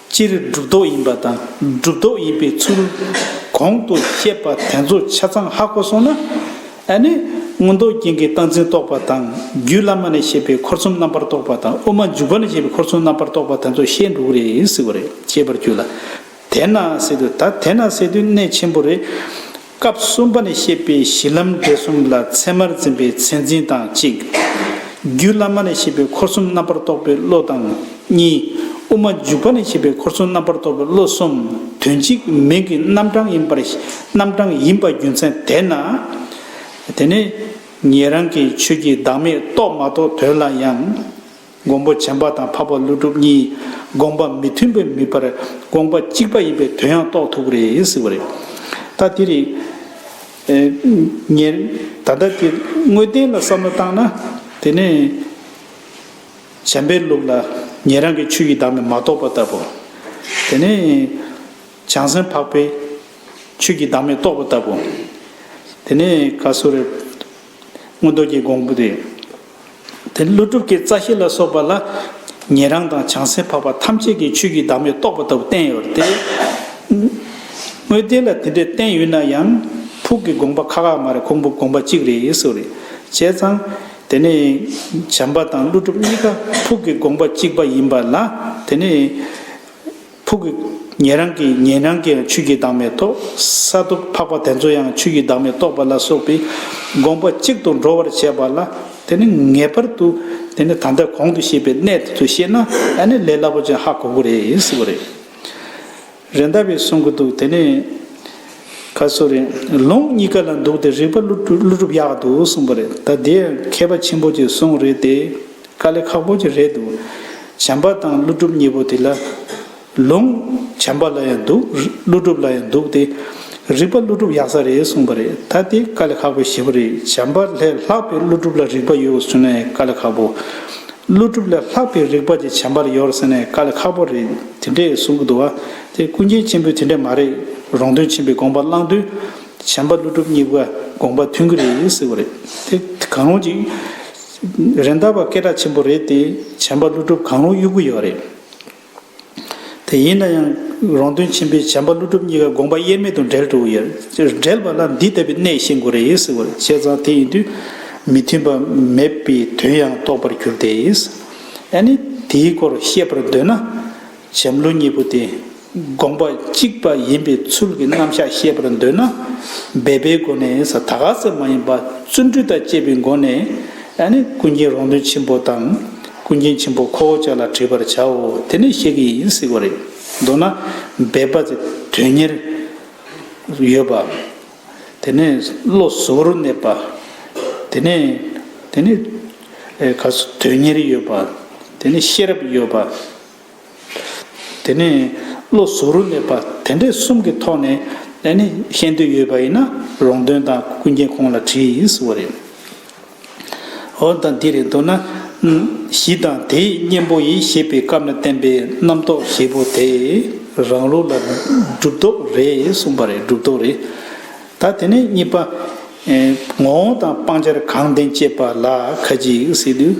སྤྱིར་སྒྲུབ་རྟོག་ཡིན་པ་དང་སྒྲུབ་རྟོག་ཡིན་པའི་ཚུལ། གོང་དུ་བཤད་པ་དེ་ཚོ་ཆ་ཚང་ཧ་གོ་སོང་ན། ཨ་ནི། མངོན་རྟོགས་རྒྱན་གྱི་སྟངས་འཛིན་རྟོག་པ་དང་རྒྱུད་བླ་མ་ནས་བཤད་པའི་འཁོར་གསུམ་རྣམ་པར་རྟོག་པ་དང་དབུ་མ་འཇུག་པ་ནས་བཤད་པའི་འཁོར་གསུམ་རྣམ་པར་རྟོག་པ་དེ་ཚོ་བཤད་འགྲོ་གི་རེད་ཟེར་བ་རེད་ཅེས་པར་གྱུར་ལ། དེས་ན་ཟེར་དུས་ད་དེས་ན་ཟེར་དུས་གནད་ཆེན་པོ་རེད། སྐབས་གསུམ་པ་ནས་བཤད་པའི་གཞི་ལམ་འབྲས་གསུམ་ལ་ཚད་མར་འཛིན་པའི་མཚན་འཛིན་དང་གཅིག། རྒྱུད་བླ་མ་ནས་བཤད་པའི་འཁོར་གསུམ་རྣམ་པར་རྟོག་པའི་བློ་དང་གཉིས། དབུ་མ་འཇུག་པ་ནས་བཤད་པའི་འཁོར་གསུམ་རྣམ་པར་རྟོག་པའི་བློ་གསུམ་དོན་གཅིག་མིང་གི་རྣམ་གྲངས་ཡིན་པར་རྣམ་གྲངས་ཡིན་པ་རྒྱུ་མཚན་དེས་ན། དེ་ནི། ཉན་རང་གི་ཆོས་ཀྱི་བདག་མེད་རྟོགས་མ་རྟོགས་དོན་ལ་ཡང། དགོངས་པ་བྱམས་པ་དང་འཕགས་པ་ཀླུ་སྒྲུབ་གཉིས་དགོངས་པ་མི་མཐུན་པའི་མིད་པར་དགོངས་པ་གཅིག་པ་ཡིན་པའི་དོན་ཡང་རྟོགས་ཐུབ་པ་རེད་ཟེར་བ་རེད། ད་དེ་རེད། ངས་ད་ལྟ་དེ་དངོས་བསྟན་ལ་བསམ་བློ་བཏང་ན། དེ་ནི། བྱམས་པའི་ལུགས་ལ་ཉན་རང་གི་ཆོས་ཀྱི་བདག་མེད་མ་རྟོགས་པ་ལྟ་བུ། དེ་ནི། བྱང་སེམས་འཕགས་པའི་ཆོས་ཀྱི་བདག་མེད་རྟོགས་པ་ལྟ་བུ། དེ་ནི་ག་སུ་རེད། སྔོན་རྡོ་རྗེ་འགོང་པོ་རེད། དེ་ཀླུ་སྒྲུབ་ཀྱི་རྩ་ཤེས་ལ་སོགས་པ་ལ། ཉན་རང་དང་བྱང་སེམས་འཕགས་པ་ཐམས་ཅད་ཀྱི་ཆོས་ཀྱི་བདག་མེད་རྟོགས་པ་ལྟ་བུ་བསྟན་ཡོད་རེད་དེ། དངོས་བདེན་ལ་དེ་འདྲས་བསྟན་ཡོད་ན་ཡང། ཕུགས་ཀྱི་དགོངས་པ་ཁ་ཁ་མ་རེད་ཁུང་བུ་དགོངས་པ་གཅིག་རེད་ཡིན་སོགས་རེད་བྱས་ཙང། དེ་ནི། བྱམས་པ་དང་ཀླུ་སྒྲུབ་གཉིས་ཀ་ཕུགས་ཀྱི་དགོངས་པ་གཅིག་པ་ཡིན་པ་ལ་དེ་ནི། ཕུག་གི་ཉན་རང་གི་ཉན་རང་གི་ཡང་ཆོས་ཀྱི་བདག་མེད་དོ། ས་རྡོ་ཕག་པ་དེ་ཚོ་ཡང་ཆོས་ཀྱི་བདག་མེད་རྟོགས་པ་ལ་སོགས་པའི་དགོངས་པ་གཅིག་ཏུ་འགྲོ་བར་བྱེད་པ་ལ་དེ་ནི་ངེས་པར་དུ་དེ་ནི་ད་ལྟ་གོང་དུ་བཤད་པའི་གནད་དེ་ཚོ་ཤེས་ན་ཨ་ནི་ལས་སླ་པོ་ཅན་ཧ་གོ་གོ་རེད་ཟེར་བ་རེད། རེད་མདའ་བས་གསུང་གི་འདུག་དེ་ནས་ཁ་སོ་རེ་ལུང་གཉིས་ཀ་ལ་འདུག་སྟེ་རིགས་པ་ཀླུ་སྒྲུབ་ཡག་འདུག་གསུངས་པ་རེད་ད་དེ་ཡང་མཁས་པ་ཆེན་པོ་གཅིག་གསུངས་རེད་དེ། དཀའ་ལས་ཁག་པོ་ཅིག་རེད་འདུག་བྱམས་པ་དང་ཀླུ་སྒྲུབ་གཉིས་པོ་དེ་ལ་ལུང། བྱམས་པ་ལ་ཡང་འདུག་ཀླུ་སྒྲུབ་ལ་ཡང་འདུག་སྟེ། རིག་པ་ཀླུ་སྒྲུབ་ཡག་ས་རེད་གསུངས་པ་རེད་ད་དེ་དཀའ་ལས་ཁག་པོའི་བྱེད་པོ་རེད་བྱམས་པ་ལས་ལྷག་པའི་ཀླུ་སྒྲུབ་ལ་རིག་པ་ཡོད་ཟུར་ནས་དཀའ་ལས་ཁག་པོ། ཀླུ་སྒྲུབ་ལས་ལྷག་པའི་རིག་པ་དེ་བྱམས་པར་ཡོད་ཟེར་ནས་དཀའ་ལས་ཁག་པོ་རེད་དེ་འདྲས་གསུང་གི་འདུག་བ་དེ་སྐུ་མཁྱེན་ཆེན་པོས་དེ་འདྲས་མ་རེད་རོང་སྟོན་ཆེན་པོས་དགོངས་པ་བླངས་དུས། བྱམས་པ་ཀླུ་སྒྲུབ་གཉིས་པོ་དགོངས་པ་མཐུན་གི་རེད་ཟེར་བ་རེད་དེ་གང་རུང་ཅིག། རེད་མདའ་བ་སྐད་གྲགས་ཆེན་པོ་རེད་དེ་བྱམས་པ་ཀླུ་སྒྲུབ་གང་རུང་གཡུག་གི་ཡོད་རེད་དེ་ཡིན་ན་ཡང་རོང་སྟོན་ཆེན་པོས་བྱམས་པ་ཀླུ་སྒྲུབ་གཉིས་ཀ་དགོངས་པ་དབྱེར་མེད་དུ་འགྲེལ་འགྲོ་གི་ཡོད་འགྲེལ་པ་ལ་འདི་ལྟ་བུའི་གནད་ཤེས་དགོས་རེད་ཟེར་བ་བཤད་ཙང་དེ་ཡིན་དུས་མི་མཐུན་པ་མེད་པའི་དོན་ཡང་རྟོགས་པར་གྱུར་ཏེ་ཨ་ནི་དེའི་སྐོར་བཤད་པར་འདོད་ན། བྱམས་བློ་གཉིས་པོ་དེ་དགོངས་པ་གཅིག་པ་ཡིན་པའི་ཚུལ་གྱི་རྣམ་གཞག་ཤེས་པར་འདོད་ན། འབད་པའི་སྒོ་ནས་ད་ག་ཟེར་མ་ཡིན་པ་བརྩོན་འགྲུས་དང་བཅས་པའི་སྒོ་ནས་ནི་ཀུན་མཁྱེན་རོང་སྟོན་ཆེན་པོ་དང་ཀུན་མཁྱེན་ཆེན་པོ་ཁོ་བོ་ཅག་ལ་དྲིས་པར་བྱའོ་དེ་ནས་ཤེས་ཀྱི་ཡིན་སྲིད་པ་རེད། མདོར་ན་འབད་པ་དེ་དོན་གཉེར་ཡོད་པ། དེ་ནས་བློ་གཟུ་བོར་གནས་པ། དེ་ནས་དེ་ནས་ག་ཚོད་དོན་གཉེར་ཡོད་པ། དེ་ནས་ཤེས་རབ་ཡོད་པ། དེ་ནས་བློ་གཟུ་རུ་སླེབས་པ་དེ་འདྲས་གསུམ་གྱི་ཐོག་ནས་ཨེ་ནི་ཤེས་འདོད་ཡོད་པ་ཡིན་ན་རོང་སྟོན་དང་ཀུན་མཁྱེན་ཁོང་ལ་དྲིས་ཟེར་བ་རེད། འོན་ཏང་འདི་རེད་འདོད་ན། གཞི་དང་དེའི་གཉེན་པོ་ཡིས་ཞེས་པའི་སྐབས་ན་བསྟན་པའི་རྣམ་རྟོག་བཞི་པོ་དེ་རང་ལུགས་ལ་སྒྲུབ་རྟོག་རེད་གསུངས་པ་རེད་སྒྲུབ་རྟོག་རེད། ད་དེ་ནས་གཉིས་པ། ངོ་བོ་དང་སྤང་བྱར་གང་བདེན་དཔྱད་པ་ལ་ཁ་ཅིག་སྲིད།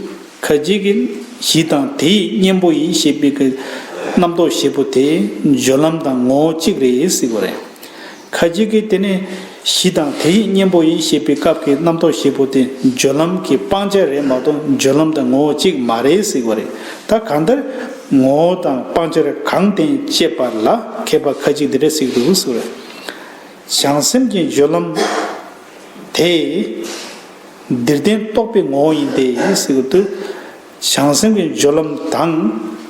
ཁ་ཅིག་གིས་གཞི་དང་དེ་ཡི་གཉེན་པོ་ཡིན་ཞེས་པའི་གི་རྣམ་རྟོག་བཞི་པོ་དེ་སྦྱོར་ལམ་དང་ངོ་བོ་གཅིག་རེད་སྲིད་པ་རེད། ཁ་ཅིག་གིས་དེ་ནི་གཞི་དང་དེ་ཡི་གཉེན་པོ་ཡིན་ཞེས་པའི་སྐབས་ཀྱི་རྣམ་རྟོག་བཞི་པོ་དེ་སྦྱོར་ལམ་གྱི་སྤང་བྱ་རེད་མ་གཏོགས་སྦྱོར་ལམ་དང་ངོ་བོ་གཅིག་མ་རེད་སྲིད་པ་རེད། ད་གང་ལྟར་ངོ་བོ་དང་སྤང་བྱར་གང་བརྟེན་དཔྱད་པ་ལ་མཁས་པ་ཁ་ཅིག་འདི་འདྲ་གཟིགས་འདུག་སྲིད་པ་རེད། བྱང་སེམས་ཀྱི་སྦྱོར་ལམ་དེ། འདིར་བསྟན་རྟོགས་པའི་ངོ་བོ་ཡིན་ཏེ་ཞེས་པ་སྟེ། བྱང་སེམས་ཀྱི་སྦྱོར་ལམ་དང།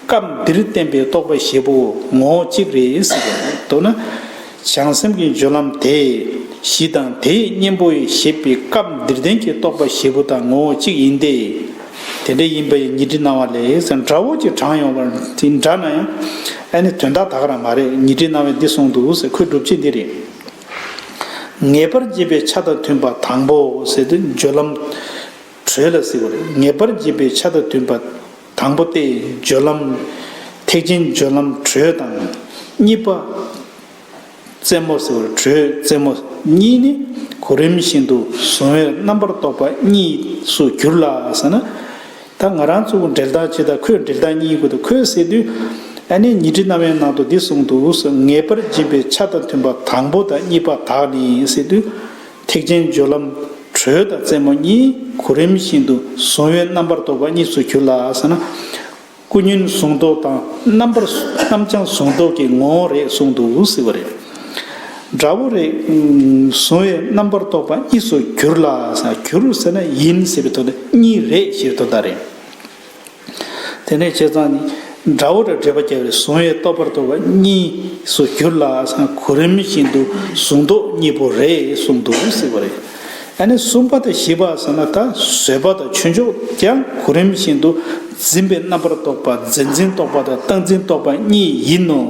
སྐབས་འདིར་བསྟན་པའི་རྟོགས་པ་ཞེས་པའོ་ངོ་བོ་གཅིག་རེད་ཟེར་བ་ལས་མདོར་ན། བྱང་སེམས་ཀྱི་སྦྱོར་ལམ་དེ་བཞི་དང་དེའི་གཉེན་པོ་ཞེས་པའི་སྐབས་འདིར་བསྟན་གྱི་རྟོགས་པ་ཞེས་པོ་དང་ངོ་བོ་གཅིག་ཡིན་ཏེ། དེ་འདྲ་ཡིན་པའི་ཉི་ཁྲི་སྣང་བ་ལས་སྒྲ་འོད་ཀྱི་གྲངས་ཡོང་བ་འདི་འདྲ་ན་ཡང། ཨ་ནི་དོན་དག་དག་རང་མ་རེད་ཉི་ཁྲི་སྣང་བས་འདི་གསུངས་འདུག་ཟེར་ཁོས་སྒྲུབ་བྱེད་འདི་རེད། ངེས་པར་འབྱེད་པའི་ཆ་དང་མཐུན་པ་དང་པོ་ཟེར་ཏེ་སྦྱོར་ལམ། དྲོད་ལ་ཟེར་བ་རེད། ངེས་པར་འབྱེད་པའི་ཆ་དང་མཐུན་པ་དང་པོ་སྟེ་སྦྱོར་ལམ། ཐེག་ཆེན་སྦྱོར་ལམ་དྲོད་དང། གཉིས་པ། རྩེ་མོ་ཟེར་བ་རེད་དྲོད་རྩེ་མོ་གཉིས་ནི་གོ་རིམས་བཞིན་དུ་གཟུང་བས་རྣམ་པར་རྟོག་པ་གཉིས་སུ་གྱུར་ལ་ཟེར་ན། ད་ང་རང་ཚོ་འབྲེལ་ཐག་ཇི་ལྟར་ཁོས་འབྲེལ་ཐག་གཉིས་ཀུན་ཏུ་ཁོས་ཟེར་དུས། ཨ་ནེ་ཉི་ཁྲི་རྣ་བའི་ནང་དུ་འདི་གསུངས་འདུག་ཟེར་ངེས་པར་སྦྱིན་པའི་ཆ་དང་མཐུན་པ་དང་པོ་དང་གཉིས་པ་དག་ནི་ཟེར་དུས། ཐེག་ཆེན་སྦྱོར་ལམ་དྲོད་དང་རྩེ་མོ་གཉིས་གོ་རིམ་བཞིན་དུ་གཟུང་བས་རྣམ་པར་རྟོག་པ་གཉིས་སུ་གྱུར་ལ་ཟེར་ན། ཀུན་ཉོན་གཟུང་རྟོག་དང་རྣམ་པར་རྣམ་བྱང་གཟུང་རྟོག་གི་ངོ་བོ་རེད་གསུངས་འདུག་ཟེར་བ་རེད། དགྲ་བོ་རེ་བཟུང་བའི་རྣམ་པར་རྟོག་པ་གཉིས་སུ་གྱུར་ལ། གྱུར་ཟེར་ན་ཡིན་ཟེར་བའི་དོན་ཏོ། གཉིས་རེད་ཞེས་དོན་དག་རེད། དེ་ནས་བྱས་ཙང་ནི། དགྲ་བོ་དང་འབྲེལ་པ་བརྒྱ་རེ་བཟུང་བའི་རྟོག་པར་རྟོག་པ་གཉིས་སུ་གྱུར་ལ། གོ་རིམས་བཞིན་དུ་གཟུང་རྟོག་གཉིས་པོ་རེད་གསུངས་འདུག་ཟེར་བ་རེད། ཨ་ནི་གསུམ་པ་དང་བཞི་པ་ཟེར་ན་ད་གཟོད་པ་དང་ཆོས་མཆོག་ཀྱང་གོ་རིམ་བཞིན་དུ་འཛིན་པའི་རྣམ་པར་རྟོག་པ་རྫས་འཛིན་རྟོག་པ་དང་རྟགས་འཛིན་རྟོག་པ་གཉིས་ཡིན་ནོ།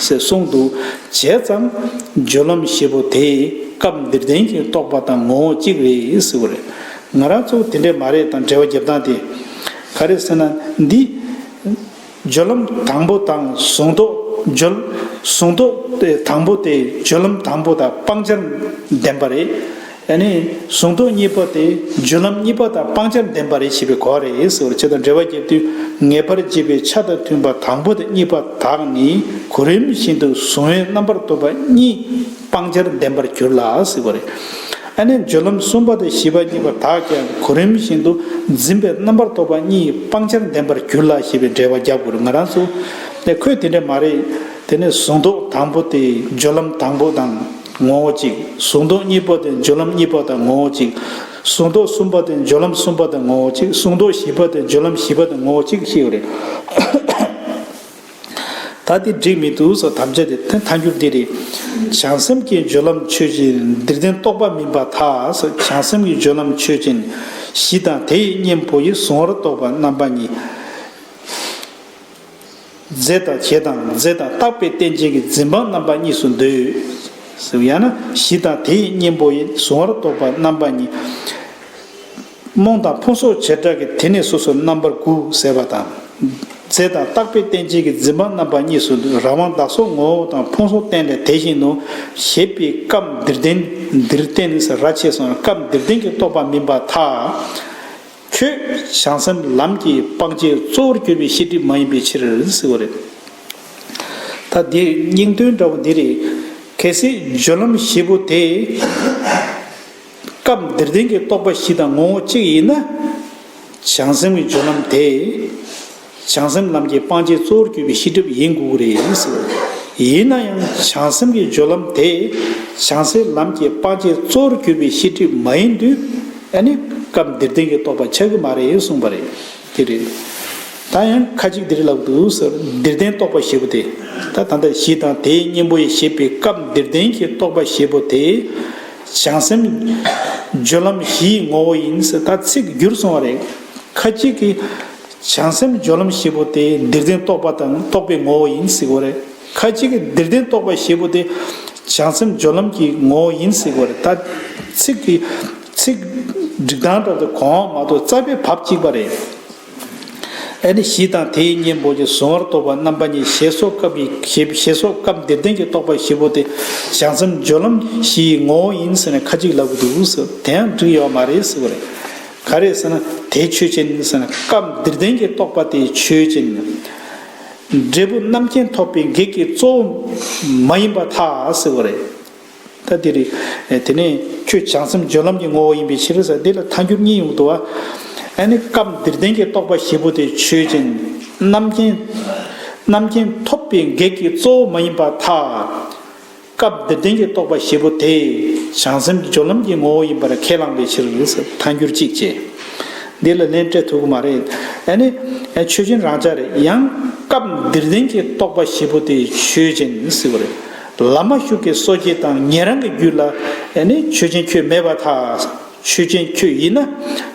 ཞེས་གསུངས་འདུག་བྱས་ཙང་སྦྱོར་ལམ་བཞི་པོ་དེ་སྐབས་འདིར་བསྟན་གྱི་རྟོག་པ་དང་ངོ་བོ་གཅིག་རེད་ཟེར་བ་རེད། ང་རང་ཚོ་དེ་འདྲས་མ་རེད་དང་འགྲེལ་བ་རྒྱབ་སྟངས་དེ་ག་རེད་ཟེར་ན་འདི། སྦྱོར་ལམ་དང་པོ་དང་གཟུང་རྟོག་སྦྱོར། གཟུང་རྟོག་དང་པོ་དེ་སྦྱོར་ལམ་དང་པོ་དང་སྤང་བྱར་ལྡན་པ་རེད། གཟུང་རྟོག་གཉིས་པ་དེ་སྦྱོར་ལམ་གཉིས་པ་དང་སྤང་བྱར་ལྡན་པ་རེད་ཞེས་པའི་གོ་བ་རེད། བྱེད་དང་འབྲེལ་བ་བརྒྱད་དུས་ངེས་པར་འབྱེད་པའི་ཆ་དང་མཐུན་པ་དང་པོ་དང་གཉིས་པ་དག་ནི་གོ་རིམས་བཞིན་དུ་གཟུང་བའི་རྣམ་པར་རྟོག་པ་གཉིས། སྤང་བྱར་ལྡན་པར་གྱུར་ལ་གཟིགས་པ་རེད། ཨ་ནི་སྦྱོར་ལམ་གསུམ་པ་དང་བཞི་པ་གཉིས་པ་དག་ཀྱང་གོ་རིམས་བཞིན་དུ་འཛིན་པའི་རྣམ་པར་རྟོག་པ་གཉིས་ཡི་སྤང་བྱར་ལྡན་པར་གྱུར་ལ་ཞེས་པའི་འགྲེལ་བ་རྒྱབ་དགོས་རེད་ང་རང་ཚོ་ནས་ཁོས་དེ་འདྲ་མ་རེད་དེ་ནི་གཟུང་རྟོག་དང་པོ་དེ་སྦྱོར་ལམ་དང་པོ་དང་ངོ་བོ་གཅིག་གཟུང་རྟོག་གཉིས་པོ་དེ་སྦྱོར་ལམ་གཉིས་པོ་དང་ངོ་བོ་གཅིག་གཟུང་རྟོག་གསུམ་པ་དེ་སྦྱོར་ལམ་གསུམ་པ་དང་ངོ་བོ་གཅིག་གཟུང་རྟོག་བཞི་པ་དེ་སྦྱོར་ལམ་བཞི་པ་དང་ངོ་བོ་གཅིག་ཤེས་ཡོད་རེད། ད་དེ་འགྲིག་མི་འདུག་སོགས་དམ་བཅའ་དེ་མཐའ་འཁྱོངས་འདི་རེད། བྱང་སེམས་ཀྱི་སྦྱོར་ལམ་ཆོས་ཅན་འདིར་བདེན་རྟོག་པ་མིན་པ་དག་སོགས་བྱང་སེམས་ཀྱི་སྦྱོར་ལམ་ཆོས་ཅན། གཞི་དང་དེ་ཡི་གཉེན་པོ་ཡི་གཟུང་བར་རྟོག་པ་རྣམ་པ་གཉིས། རྫས་དང་བྱེད་དང་རྫས་དང་རྟག་པའི་རྟེན་ཅན་གྱི་འཛིན་སྤངས་རྣམ་པ་གཉིས་སུ་འདོད། ཡང་ན་གཞི་དང་དེ་ཡི་གཉེན་པོ་ཡི་གཟུང་བར་རྟོག་པ་རྣམ་པ་གཉིས། རྨོངས་དང་ཕུང་སོགས་བྱེ་བྲག་གི་དེ་ནས་སོ་སོར་རྣམ་པར་དགུ་ཟད་པ་དང། རྫས་དང་བརྟགས་པའི་རྟེན་ཅན་གྱི་འཛིན་པ་རྣམ་པ་གཉིས་སུ་རང་དབང་བདག་སོགས་ངོ་བོ་དང་ཕུང་སོགས་རྟེན་ལས་དེ་བཞིན་ནོ། ཞེས་པས་སྐབས་འདིར་རྟེན་འདིར་བརྟེན་ཟེར་ར་ཆེ་སོང་སྐབས་འདིར་རྟེན་གྱི་རྟོག་པ་མིན་པར་ཐལ། ཁྱོད་བྱང་སེམས་ལམ་གྱི་སྤང་བྱའི་གཙོ་བོར་གྱུར་པའི་ཤེས་སྒྲིབ་མ་ཡིན་པའི་ཕྱིར། ད་འདིར་སྙིང་དོན་འདྲ་བོ་འདི་རེད། གལ་སྲིད་སྦྱོར་ལམ་བཞི་པོ་དེ། སྐབས་འདིར་བདེན་གྱི་རྟོག་པ་བཞི་དང་ངོ་བོ་གཅིག་ཡིན་ན། བྱང་སེམས་ཀྱི་སྦྱོར་ལམ་དེ། བྱང་སེམས་ལམ་གྱི་སྤང་བྱའི་གཙོ་བོར་གྱུར་པའི་ཤེས་སྒྲིབ་ཡིན་དགོས་ཀྱི་རེད། ཡིན་ན་ཡང་བྱང་སེམས་ཀྱི་སྦྱོར་ལམ་དེ། བྱང་སེམས་ལམ་གྱི་སྤང་བྱའི་གཙོ་བོར་གྱུར་པའི་ཤེས་སྒྲིབ་མ་ཡིན་དུས། ཨ་ནི་སྐབས་འདིར་བདེན་གྱི་རྟོག་པ་ཆགས་ཀྱི་མ་རེད་གསུངས་པ་རེད། དེ་རེད། ད་ཡང་ཁ་ཅིག་འདིར་ལབ་འདུག་ཟེར་བ་འདིར་བདེན་རྟོག་པ་ཞེས་པོ་དེ། ད་ད་ལྟ་གཞི་དང་དེའི་གཉེན་པོ་ཡི་ཞེས་པའི་སྐབས་འདིར་བདེན་གྱི་རྟོག་པ་ཞེས་པོ་དེ། བྱང་སེམས། སྦྱོར་ལམ་བཞིའི་ངོ་བོ་ཡིན། ད་ཚིག་བསྒྱུར་སོང་བ་རེད། ཁ་ཅིག་གིས། བྱང་སེམས་སྦྱོར་ལམ་བཞི་པོ་དེ་འདིར་བདེན་རྟོག་པ་དང་རྟོག་པའི་ངོ་བོ་ཡིན་ཟེར་གི་རེད། ཁ་ཅིག་གིས་འདིར་བདེན་རྟོག་པ་བཞི་པོ་དེ། བྱང་སེམས་སྦྱོར་ལམ་གྱི་ངོ་བོ་ཡིན་ཟེར་གི་རེད། ད་ཚིག་གིས། ཚིག། སྒྲིག་སྟངས་ལྟར་དུ་གོང་འོག་མ་གཏོགས་རྩ་བའི་བབ་གཅིག་པ་རེད། ཨ་ནི་བཞི་དང་དེའི་གཉེན་པོ་ཀྱི་གཟུང་བར་རྟོག་པ་རྣམ་པ་གཉིས་ཞེས་སོགས་སྐབས་ཀྱི་ཞེས་ཞེས་སོགས་སྐབས་འདིར་བསྟན་གྱི་རྟོག་པ་བཞི་པོ་དེ་བྱང་སེམས་སྦྱོར་ལམ་བཞི་ཡི་ངོ་བོ་ཡིན་ཟེར་ནས་ཁ་ཅིག་ལབ་ཀྱི་འདུག་ཟེར་བ་དེ་ཡང་འགྲིག་ཡོད་མ་རེད་ཟེར་བ་རེད། ག་རེད་ཟེར་ན་དེ་ཆོས་ཅན་ཡིན་ཟེར་ན་སྐབས་འདིར་བསྟན་གྱི་རྟོག་པ་དེ་ཆོས་ཅན་ཡིན། འབྲས་བུ་རྣམ་མཁྱེན་ཐོབ་པའི་གེགས་ཀྱི་གཙོ་བོ་མ་ཡིན་པ་ཐག་ཟེར་བ་རེད། ད་འདིར་རིག། དེ་ནས་ཁྱོད་བྱང་སེམས་སྦྱོར་ལམ་གྱི་ངོ་བོ་ཡིན་པའི་ཕྱིར། འདི་ལ་མཐའ་འགྱུར་གཉིས་ཡོང་དུ་བ། ཨ་ནི་སྐབས་འདིར་བདེན་གྱི་རྟོག་པ་བཞི་པོ་དེ་ཆོས་ཅན། རྣམ་མཁྱེན། རྣམ་མཁྱེན་ཐོབ་པའི་གེགས་ཀྱི་གཙོ་བོ་མ་ཡིན་པ་ཐ། སྐབས་འདིར་བདེན་གྱི་རྟོག་པ་བཞི་པོ་དེ། བྱང་སེམས་སྦྱོར་ལམ་གྱི་ངོ་བོ་ཡིན་པར་ཁས་བླངས་པའི་ཕྱིར། མཐའ་འགྱུར་གཅིག་བྱས། འདི་ལ་ལན་སྤྲད་ཐུག་གི་མ་རེད། ཨ་ནི། ཆོས་ཅན་རང་ཅག་རེད་ཡང། སྐབས་འདིར་བདེན་གྱི་རྟོག་པ་བཞི་པོ་དེ་ཆོས་ཅན། བླ་མ་ཤུགས་ཀྱིས་གསོ་བྱེད་དང་ཉན་རང་གི་རྒྱུད་ལ་ནི་ཆོས་ཅན་ཁྱོད་མེད་པར་ཐལ། ཆོས་ཅན་ཁྱོད་ཡིན་ན་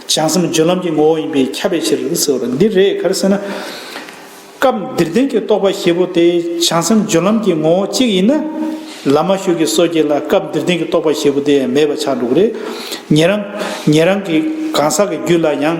བྱང་སེམས་སྦྱོར་ལམ་གྱི་ངོ་བོ་ཡིན་པས་ཁྱབ་པའི་ཕྱིར་ཟེར་བ་འདི་རེད་གར་ཟེར་ན། སྐབས་འདིར་བདེན་གྱི་རྟོག་པ་ཞེས་པོ་དེ་བྱང་སེམས་སྦྱོར་ལམ་གྱི་ངོ་བོ་གཅིག་ཡིན་ན། བླ་མ་ཤུགས་ཀྱིས་གསོ་བྱེད་ལ་སྐབས་འདིར་བདེན་གྱི་རྟོག་པ་ཞེས་པོ་དེ་ཡང་མེད་པ་ཆགས་འགྲོ་གི་རེད། ཉན་རང་ཉན་རང་གི་གང་ཟག་གི་རྒྱུད་ལ་ཡང།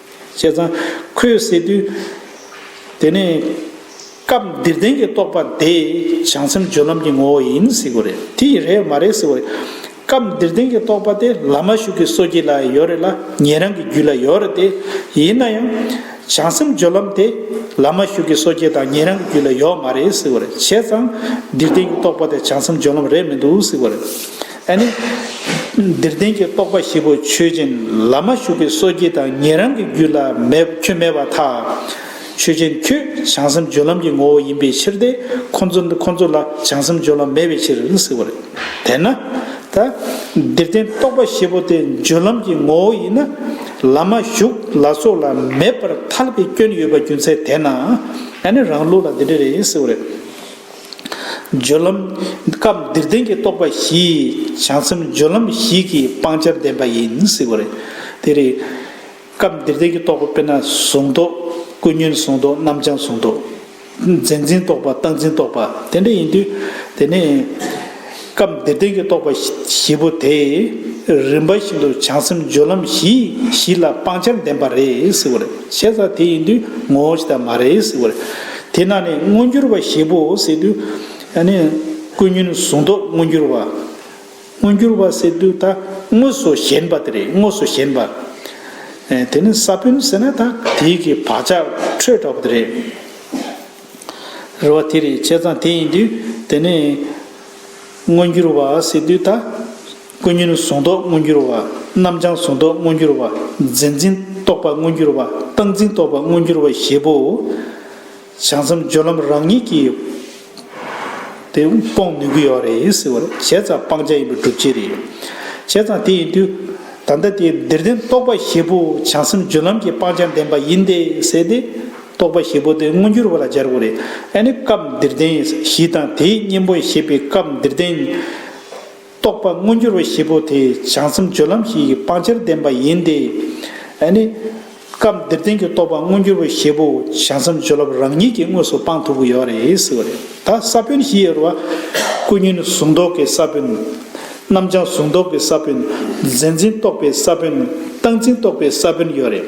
བྱས་ཙང་ཁོས་ཟེར་དུས། དེ་ནི། སྐབས་འདིར་བདེན་གྱི་རྟོག་པ་དེ། བྱང་སེམས་སྦྱོར་ལམ་གྱི་ངོ་བོ་ཡིན་ཟེར་གི་རེད་དེ། ཡིན་རེད་མ་རེད་ཟེར་བ་རེད། སྐབས་འདིར་བདེན་གྱི་རྟོག་པ་དེ་ལ་མ་ཞུགས་ཀྱི་སོ་སྐྱེ་ལ་ཡོད་རེད་ལ་ཉན་རང་གི་རྒྱུད་ལ་ཡོད་རེད་དེ། ཡིན་ན་ཡང། བྱང་སེམས་སྦྱོར་ལམ་དེ། ལ་མ་ཞུགས་ཀྱི་སོ་སྐྱེ་དང་ཉན་རང་གི་རྒྱུད་ལ་ཡོད་མ་རེད་ཟེར་བ་རེད། བྱས་ཙང། འདིར་བདེན་གྱི་རྟོག་པ་དེ་བྱང་སེམས་སྦྱོར་ལམ་རེད་མི་འདུག་ཟེར་བ་རེད། ཨ་ནི། འདིར་བདེན་གྱི་རྟོག་པ་བཞི་པོ་ཆོས་ཅན་ལ་མ་ཞུགས་པའི་སོ་སྐྱེ་དང་ཉན་རང་གི་རྒྱུད་ལ་ཁྱོད་མེད་པར་ཐལ། ཆོས་ཅན་ཁྱོད་བྱང་སེམས་སྦྱོར་ལམ་གྱི་ངོ་བོ་ཡིན་པའི་ཕྱིར་ཏེ་ཁོ་ཚོ་ལ་བྱང་སེམས་སྦྱོར་ལམ་མེད་པའི་ཕྱིར་ཟེར་བ་རེད། དེས་ན། ད། འདིར་བདེན་རྟོག་པ་བཞི་པོ་དེ་སྦྱོར་ལམ་གྱི་ངོ་བོ་ཡིན་ན། ལ་མ་ཞུགས་ལ་སོགས་ལ་མེད་པར་ཐལ་བའི་སྐྱོན་ཡོད་པ་རྒྱུ་མཚན་དེས་ན། ཨ་ནི་རང་ལུགས་ལ་འདི་འདྲ་རེད་ཟེར་བ་རེད། སྦྱོར་ལམ། སྐབས་འདིར་བདེན་གྱི་རྟོག་པ་བཞིས་བྱང་སེམས་སྦྱོར་ལམ་བཞི་གིས་སྤང་བྱར་ལྡན་པ་ཡིན་ཟེར་བ་རེད། དེ་རེད། སྐབས་འདིར་བདེན་གྱི་རྟོག་པ་དཔེར་ན་གཟུང་རྟོག། ཀུན་ཉོན་གཟུང་རྟོག་རྣམ་བྱང་གཟུང་རྟོག། མཛེས་འཛིན་རྟོག་པ་རྟག་འཛིན་རྟོག་པ་དེ་འདྲ་ཡིན་དུས། དེ་ནས། སྐབས་འདིར་བདེན་གྱི་རྟོག་པ་བཞི་པོ་དེས་རིམ་པ་བཞིན་དུ་བྱང་སེམས་སྦྱོར་ལམ་བཞི་བཞི་ལ་སྤང་བྱར་ལྡན་པ་རེད་ཟེར་བ་རེད་བྱས་ཙང་དེ་ཡིན་དུས་ངོ་བོ་ཞིག་དག་མ་རེད་ཟེར་བ་རེད། དེས་ན་ནི་མངོན་གྱུར་བ་བཞི་པོ་ཟེར་དུས། ཀུན་ཉོན་གཟུང་རྟོག་མངོན་གྱུར་བ། མངོན་གྱུར་བ་ཟེར་དུས་ད་དངོས་སུ་ཞེན་པ་དེ་རེད་དངོས་སུ་ཞེན་པ། དེ་ནི་ས་བོན་ཟེར་ན་ད་དེའི་གི་བག་ཆགས་འཕྲོས་འདྲ་བོ་དེ་རེད། རེ་བ་དེ་རེད་བྱས་ཙང་དེ་ཡིན་དུས་དེ་ནས། མངོན་འགྱུར་བ་ཟེར་དུས་ད། ཀུན་ཉོན་གཟུང་རྟོག་མངོན་འགྱུར་བ། རྣམ་བྱང་གཟུང་རྟོག་མངོན་འགྱུར་བ། འཛིན་འཛིན་རྟོག་པ་མངོན་འགྱུར་བ། བཏང་འཛིན་རྟོག་པ་མངོན་འགྱུར་བ་ཞེས་པོ། བྱང་མཚམས་སྦྱོར་ལམ་རང་ཉིད་ཀྱིས། དེ་སྤོང་ནུས་ཀྱི་ཡོད་རེད་ཟེར་བ་རེད་བྱས་ཙང་སྤང་བྱ་ཡིན་པའི་སྒྲུབ་བྱེད་རེད། བྱས་ཙང་དེ་ཡིན་དུས། ད་ལྟ་དེ་འདིར་བདེན་རྟོག་པ་ཞེས་པོ་བྱང་སེམས་སྦྱོར་ལམ་གྱི་སྤང་བྱ་བདེན་པ་ཡིན་ཏེ་ཟེར་ཏེ། རྟོག་པ་ཞེ་པོ་དེ་མངོན་གྱུར་བ་ལ་སྦྱར་བ་རེད། ཨ་ནི་སྐབས་འདིར་བསྟན་བཞི་དང་དེའི་གཉེན་པོ་ཞེས་པའི་སྐབས་འདིར་བསྟན། རྟོག་པ་མངོན་གྱུར་བ་ཞེ་པོ་དེ་བྱང་སེམས་སྦྱོར་ལམ་ཞིག་གི་སྤང་བྱར་ལྡན་པ་ཡིན་ཏེ། ཨ་ནི། སྐབས་འདིར་བསྟན་གྱི་རྟོག་པ་མངོན་གྱུར་བ་ཞེ་པོ་བྱང་སེམས་སྦྱོར་ལམ་རང་ཉིད་ཀྱིས་དངོས་སུ་སྤང་ཐུབ་ཀྱི་ཡོད་རེད་ཟེར་བ་རེད། ད་ས་བོན་བཞི་ཡོད་པ། ཀུན་ཉོན་གཟུང་རྟོག་གི་ས་བོན། རྣམ་བྱང་གཟུང་རྟོག་གི་ས་བོན། རྫས་འཛིན་རྟོག་པའི་ས་བོན། རྟགས་འཛིན་རྟོག་པའི་ས་བོན་ཡོད་རེད།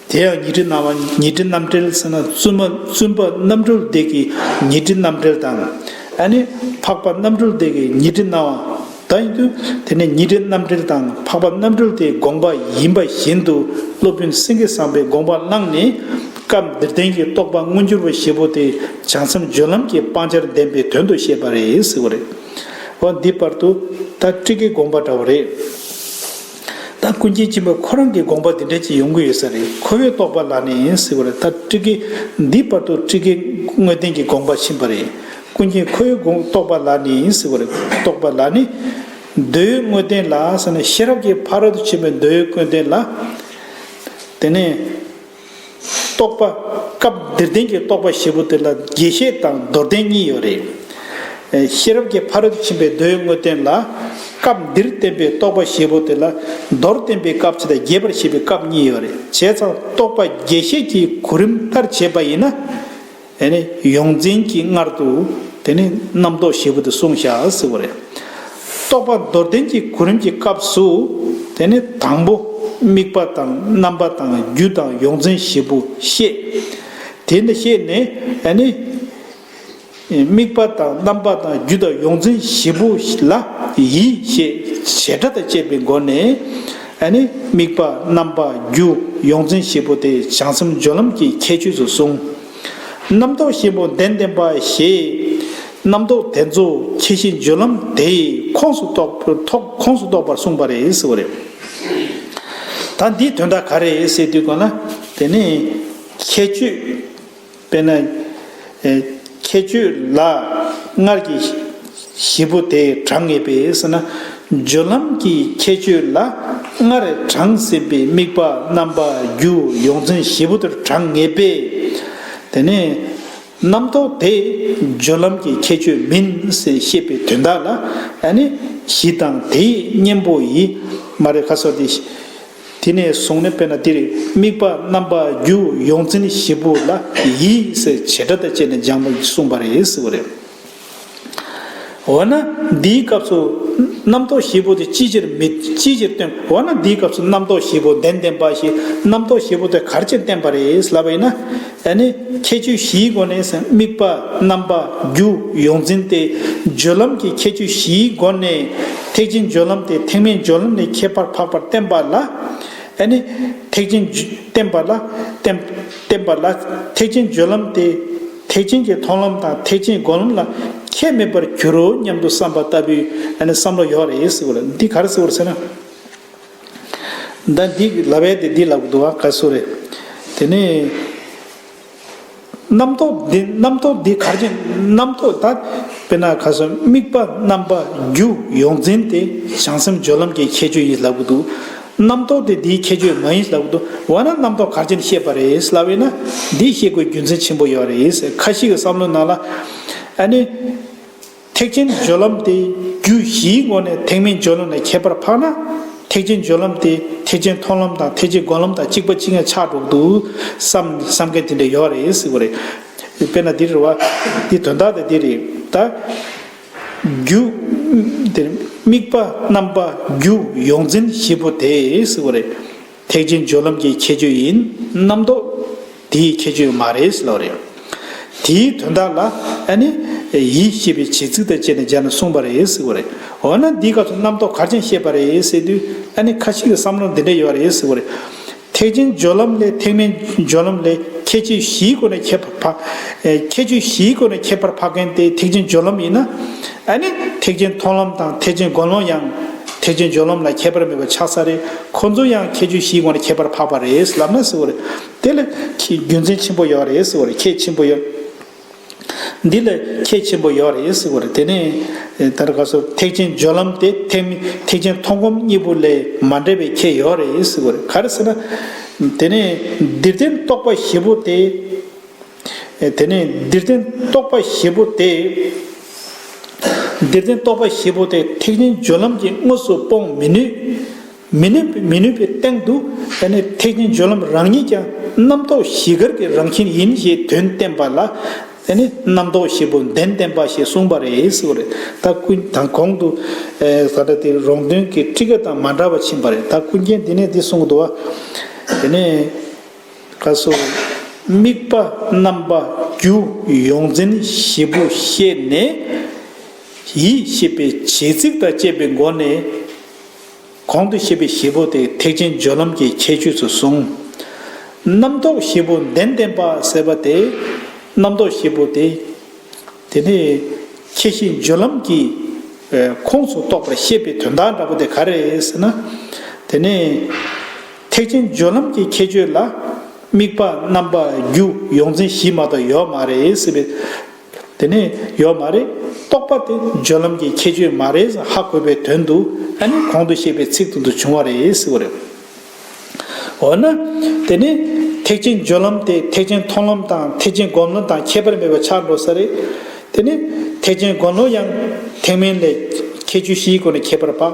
དེ་ཡང་ཉི་ཁྲི་སྣང་བ་ཉི་ཁྲི་རྣམ་འགྲེལ་ཟེར་ན་བཙུན་མ་བཙུན་པ་རྣམ་གྲོལ་བདེ་གི་ཉི་ཁྲི་རྣམ་འགྲེལ་དང། ཨ་ནི་འཕགས་པ་རྣམ་གྲོལ་བདེ་གི་ཉི་ཁྲི་སྣང་བ་དང་ཡིན་དུས་དེ་ནི་ཉི་ཁྲི་རྣམ་འགྲེལ་དང་འཕགས་པ་རྣམ་གྲོལ་དེའི་དགོངས་པ་ཡིན་པ་བཞིན་དུ་སློབ་དཔོན་སེང་གེ་ཟངས་པའི་དགོངས་པ་བླངས་ནས། སྐབས་འདིར་བསྟན་གྱི་རྟོགས་པ་མངོན་གྱུར་པ་ཞེས་པོ་དེ་བྱང་སེམས་སྦྱོར་ལམ་གྱི་སྤང་བྱར་ལྡན་པའི་དོན་དུ་བཤད་པ་རེད་ཟེར་བ་རེད། འོ་འདི་བར་དུ་ད་ཀྲིག་གི་དགོངས་པ་འདྲ་བོ་རེད། ད་ཀུན་མཁྱེན་ཆེན་པོས་ཁོ་རང་གི་དགོངས་པ་འདི་འདྲ་ཅིག་ཡོང་གི་ཡོད་ས་རེད་ཁོ་བོས་རྟོགས་པ་ལག་ནས་ཡིན་སྲིད་པ་རེད་ད་ཀྲི་ཀའི་འདིའི་བར་དུ་ཀྲི་ཀའི་དངོས་བསྟན་གྱི་དགོངས་པ་ཕྱིན་པ་རེད་ཀུན་མཁྱེན་ཁོ་བོའི་དགོངས་རྟོགས་པ་ལག་ནས་ཡིན་སྲིད་པ་རེད་རྟོགས་པ་ལག་ནི། མདོའི་དངོས་བསྟན་ལ་ཟེར་ན་ཤེས་རབ་ཀྱི་ཕ་རོལ་ཏུ་ཕྱིན་པའི་མདོའི་དངོས་བསྟན་ལ། དེ་ནས། རྟོག་པ། སྐབས་འདིར་བདེན་གྱི་རྟོག་པ་བཞི་པོ་དེ་ལ་རྒྱས་བཤད་དང་མདོར་བསྟན་གཉིས་ཡོད། ཤེས་རབ་ཀྱི་ཕ་རོལ་ཏུ་ཕྱིན་པའི་མདོའི་དངོས་བསྟན་ལ། སྐབས་འདིར་བསྟན་པའི་རྟོག་པ་བཞི་པོ་དེ་ལ་མདོར་བསྟན་པའི་སྐབས་ཕྱི་དང་རྒྱས་པར་བཤད་པའི་སྐབས་གཉིས་ཡོད། བྱས་ཙང་རྟོག་པ་རྒྱས་བཤད་ཀྱི་གོ་རིམ་ལྟར་བྱས་པ་ཡིན་ན། དེ་ནས་ཡོངས་འཛིན་གྱིས་སྔར་དུ་དེ་ནི་རྣམ་རྟོག་ཞེས་བུ་དུ་གསུངས་བྱ་ཟེར་བ་རེད། རྟོག་པ་མདོར་བསྟན་གྱི་གོ་རིམ་གྱི་སྐབས་སུ་དེ་ནི་དང་པོ་དམིགས་པ་དང་རྣམ་པ་དང་རྒྱུ་དང་ཡོངས་འཛིན་ཞེས་བུ་བཤད། དེ་འདི་ཤེས་ནས་དེ་ནི་དམིགས་པ་དང་རྣམ་པ་དང་རྒྱུ་དང་ཡོངས་འཛིན་ཞེས་བུ་ལ་ཡིད་ཞེས་བྱེ་བྲག་དང་བཅས་པའི་སྒོ་ནས་ཨ་ནི་དམིགས་པ་རྣམ་པ་རྒྱུ་ཡོངས་འཛིན་བཞི་པོ་དེ་བྱང་སེམས་སྦྱོར་ལམ་གྱི་ཁྱད་ཆོས་སུ་གསུངས། རྣམ་རྟོག་གཤིན་པོ་གདན་བསྟེན་པ་ཞེས། རྣམ་རྟོག་དེ་ཚོ་ཁྱད་གཤིན་སྦྱོར་ལམ་དེའི་ཁོངས་སུ་གཏོགས་པར་གསུངས་པ་རེད་ཟེར་བ་རེད། ད་འདིའི་དོན་དག་ག་རེད་ཟེར་དུས་གོ་ན་དེ་ནི་ཁྱད་ཆོས། དཔེར་ན། ཁྱད་ཆོས་ལ། སྔར་གྱི། བཞི་པོ་དེས་གྲངས་ངེས་པས་ན། སྦྱོར་ལམ་གྱི་ཁྱད་ཆོས་ལ། སྔར་གྲངས་ཟིན་པའི་དམིགས་པ་རྣམ་པ་རྒྱུ་ཡོངས་འཛིན་བཞི་པོ་དེར་གྲངས་ངེས་པས། དེ་ནས། རྣམ་རྟོག་དེས་སྦྱོར་ལམ་གྱི་ཁྱད་ཆོས་མིན་ཞེས་པའི་དོན་དག་ལ། གཞི་དང་དེའི་གཉེན་པོ་ཡི། མ་རེ་ཁ་སོགས་ཏེ། དེ་ནས་བཟུང་ནས་དཔེར་ན་འདིར་དམིགས་པ་རྣམ་པ་རྒྱུ་ཡོངས་འཛིན་བཞི་པོ་ལ་ཡིད་བྱེད་སྒྲ་དང་བཅས་ནས་སྦྱངས་པ་གསུངས་པ་རེད་ཟེར་བ་རེད། འོ་ན་འདིའི་སྐབས་སུ་རྣམ་རྟོག་བཞི་པོ་དེ་ཅིའི་ཕྱིར་མི་ཅིའི་ཕྱིར་སྟོན་འོ་ན་འདིའི་སྐབས་སུ་རྣམ་རྟོག་བཞི་པོ་བདེན་བདེན་པ་ཞིག་རྣམ་རྟོག་བཞི་པོ་དེ་གར་ཕྱིར་བསྟན་པ་རེད་ལབ་པ་ཡིན་ན། ད་ནི་ཁྱད་ཆོས་བཞིའི་སྒོ་ནས་དམིགས་པ་རྣམ་པ་རྒྱུ་ཡོངས་འཛིན་ཏེ་སྦྱོར་ལམ་གྱི་ཁྱད་ཆོས་བཞིའི་སྒོ་ནས་ཐེག་ཆེན་སྦྱོར་ལམ་སྟེ་ཐེག་དམན་སྦྱོར་ལམ་ལས་ཁྱད་པར་འཕགས་པར་བསྟན་པ་ལ། ད་ནི་ཐེག་ཆེན་བསྟན་པ་ལ། བསྟན་པ་ལ། ཐེག་ཆེན་སྦྱོར་ལམ་སྟེ་ཐེག་ཆེན་གྱི་མཐོང་ལམ་དང་ཐེག་ཆེན་སྒོམ་ལམ་ལ་ཁྱད་མེད་པར་འགྱུར་རོ་སྙམ་དུ་བསམ་པ་ལྟ་བུའི་བསམ་བློ་ཡོད་རེད་ཟེར་བ་ལ་འདི་ག་རེ་ཟེར་བར་ཟེར་ན། ཟླ་འདི་གི་ལ་བས་དེ་འདི་ལ་འདུ་བ་ག་སུ་རེད། དེ་ནས། རྣམ་རྟོག་འདི་རྣམ་རྟོག་འདི་གར་ཕྱིན་རྣམ་རྟོག་ད། དཔེར་ན་ག་སུ་དམིགས་པ་རྣམ་པ་རྒྱུ་ཡོངས་འཛིན་དེ་བྱང་སེམས་སྦྱོར་ལམ་གྱི་ཁྱད་ཆོས་ཡིན་ལབ་གི་འདུག། རྣམ་རྟོག་དེ་འདིའི་ཁྱད་ཆོས་མ་ཡིན་ལབ་གི་འདུག་འོ་ན་རྣམ་རྟོག་གར་ཕྱིན་ཤེས་པ་རེད་ལབ་ཡོད་ན། འདི་ཤེས་དགོས་རྒྱུ་མཚན་ཆེན་པོ་ཡོད་རེད་ཁ་ཞིག་གི་བསམ་བློའི་ནང་ལ། ཨ་ནི། ཐེག་ཆེན་སྦྱོར་ལམ་དེ་རྒྱུད་བཞིའི་སྔོན་ནས་ཐེག་དམན་སྦྱོར་ལམ་ལས་ཁྱད་པར་འཕགས་ན། ཐེག་ཆེན་སྦྱོར་ལམ་དེ་ཐེག་ཆེན་མཐོང་ལམ་དང་ཐེག་ཆེན་སྒོམ་ལམ་དང་གཅིག་པ་གཅིག་ངས་ཆགས་འགྲོ་འདུག་བསམ་བསམ་མཁན་དེ་འདྲ་ཡོད་རེད་སྲིད་གོ་རེད། དཔེར་ན་འདི་རེད་བ། འདི་དོན་དག་དེ་འདི་རེད་ད། རྒྱུ། དེ་དམིགས་པ་རྣམ་པ་རྒྱུ་ཡོངས་འཛིན་བཞི་པོ་དེ་སྲིད་གོ་རེད། ཐེག་ཆེན་སྦྱོར་ལམ་གྱི་ཁྱད་ཆོས་ཡིན་རྣམ་རྟོག། དེའི་ཁྱད་ཆོས་མ་རེད་ཟེར་བ་རེད། དེའི་དོན་དག་ལ་ཨ་ནི། ཡིད་ཤེས་པའི་བྱེད་ཚིག་དང་བཅས་ནས་སྦྱར་ནས་གསུངས་པ་རེད་ཟེར་བ་རེད། འོ་ན་འདིའི་སྐབས་སུ་རྣམ་རྟོག་གར་ཅན་བཤད་པ་རེད་ཟེར་དུས་ཨ་ནི་ཁ་ཅིག་གིས་བསམ་བློར་འདི་འདྲ་ཡོད་པ་རེད་ཟེར་བ་རེད། ཐེག་ཆེན་སྦྱོར་ལམ་ལས་ཐེག་དམན་སྦྱོར་ལམ་ལས་ཁྱད་ཆོས་བཞིའི་སྒོ་ནས་ཁྱད་པར་ཁྱད་ཆོས་བཞིའི་སྒོ་ནས་ཁྱད་པར་འཕགས་མཁན་དེ་ཐེག་ཆེན་སྦྱོར་ལམ་ཡིན་ན། ཨ་ནི་ཐེག་ཆེན་མཐོང་ལམ་དང་ཐེག་ཆེན་སྒོམ་ལམ་ཡང། ཐེག་ཆེན་སྦྱོར་ལམ་ལ་ཁྱད་པར་མེད་པ་ཆགས་ས་རེད་ཁོང་ཚོ་ཡང་ཁྱད་ཆོས་བཞིའི་སྒོ་ནས་ཁྱད་པར་འཕགས་པ་རེད་ལབ་ན་ཟེར་བ་རེད། དེ་ལ་ཁྱེད་རྒྱུ་མཚན་ཆེན་པོ་ཡོད་རེད་ཟེར་བར་ཁྱེད་ཆེན་པོ་ཡོད། འདི་ལ་ཁྱེད་ཆེན་པོ་ཡོད་རེད་ཟེར་བར་དེ་ནས་ད་ར་ག་སོར་ཐེག་ཆེན་སྦྱོར་ལམ་དེ་ཐེག་མི་ཐེག་ཆེན་མཐོང་སྒོམ་གཉིས་པོ་ལས་མ་འདྲེས་པའི་ཁྱེད་ཡོད་རེད་ཟེར་བར་ག་རེ་ཟེར་ན། དེ་ནས་འདིར་བསྟན་རྟོགས་པ་བཞི་པོ་དེ། དེ་ནས་འདིར་བསྟན་རྟོགས་པ་བཞི་པོ་དེ། འདིར་བསྟན་རྟོགས་པ་བཞི་པོ་དེ་ཐེག་ཆེན་སྦྱོར་ལམ་གྱིས་དངོས་སུ་སྤོང་མི་ནུས། མི་ནུས་པའི་མི་ནུས་པའི་སྟེང་དུ་ད་ནི་ཐེག་ཆེན་སྦྱོར་ལམ་རང་ཉིད་ཀྱང་རྣམ་རྟོག་བཞི་གར་གྱི་རང་བཞིན་ཡིན་ཞེས་དོན་བསྟན་པ་ལ། ད་ནི་རྣམ་རྟོག་བཞི་པོ་བདེན་བསྟན་པ་ཞེས་གསུངས་པ་རེད་ཟེར་བ་རེད་ད་ཀུན་དང་གོང་དུ། ད་ལྟ་དེ་རོང་སྟོན་གྱི་ཁྲི་ཀ་དང་མ་འདྲ་བ་ཕྱིན་པ་རེད་ད་ཀུན་མཁྱེན་འདི་ནས་འདི་གསུངས་འདུག་བ། དེ་ནས་ཁ་སོ། དམིགས་པ་རྣམ་པ་རྒྱུ་ཡོངས་འཛིན་བཞི་པོ་ཤེས་ནས། ཡིད་ཤེས་པའི་བྱེད་ཚིག་དང་བཅས་པའི་སྒོ་ནས། གོང་དུ་བཤད་པའི་བཞི་པོ་དེ་ཐེག་ཆེན་སྦྱོར་ལམ་གྱི་ཁྱད་ཆོས་སུ་གསུངས། རྣམ་རྟོག་བཞི་པོ་བདེན་བདེན་པ་ཟེར་བ་དེ་རྣམ་རྟོག་བཞི་པོ་དེ། དེ་ནི་ཁྱད་ཤེས་སྦྱོར་ལམ་གྱི་ཁོངས་སུ་གཏོགས་པར་བཤད་པའི་དོན་དག་འདྲ་པོ་དེ་ག་རེད་ཟེར་ན། དེ་ནི་ཐེག་ཆེན་སྦྱོར་ལམ་གྱི་ཁྱད་ཆོས་ལ་དམིགས་པ་རྣམ་པ་རྒྱུ་ཡོངས་འཛིན་བཞི་མ་དག་ཡོད་མ་རེད་ཟེར་བའི། དེ་ནས་ཡོད་མ་རེད། རྟོག་པ་དེ་སྦྱོར་ལམ་གྱི་ཁྱད་ཆོས་མ་རེད་ཧ་གོ་བའི་དོན་དུ་ཨ་ནི་གོང་དུ་བཤད་པའི་ཚིག་དོན་དུ་བྱུང་བ་རེད་ཟེར་བ་རེད། འོ་ན། དེ་ནས་ཐེག་ཆེན་སྦྱོར་ལམ་དེ་ཐེག་ཆེན་མཐོང་ལམ་དང་ཐེག་ཆེན་སྒོམ་ལམ་དང་ཁྱད་པར་མེད་པར་ཆགས་འགྲོ་ས་རེད། དེ་ནས་ཐེག་ཆེན་སྒོམ་ལམ་ཡང་ཐེག་དམན་ལས། ཁྱད་ཆོས་བཞིའི་སྒོ་ནས་ཁྱད་པར་འཕགས།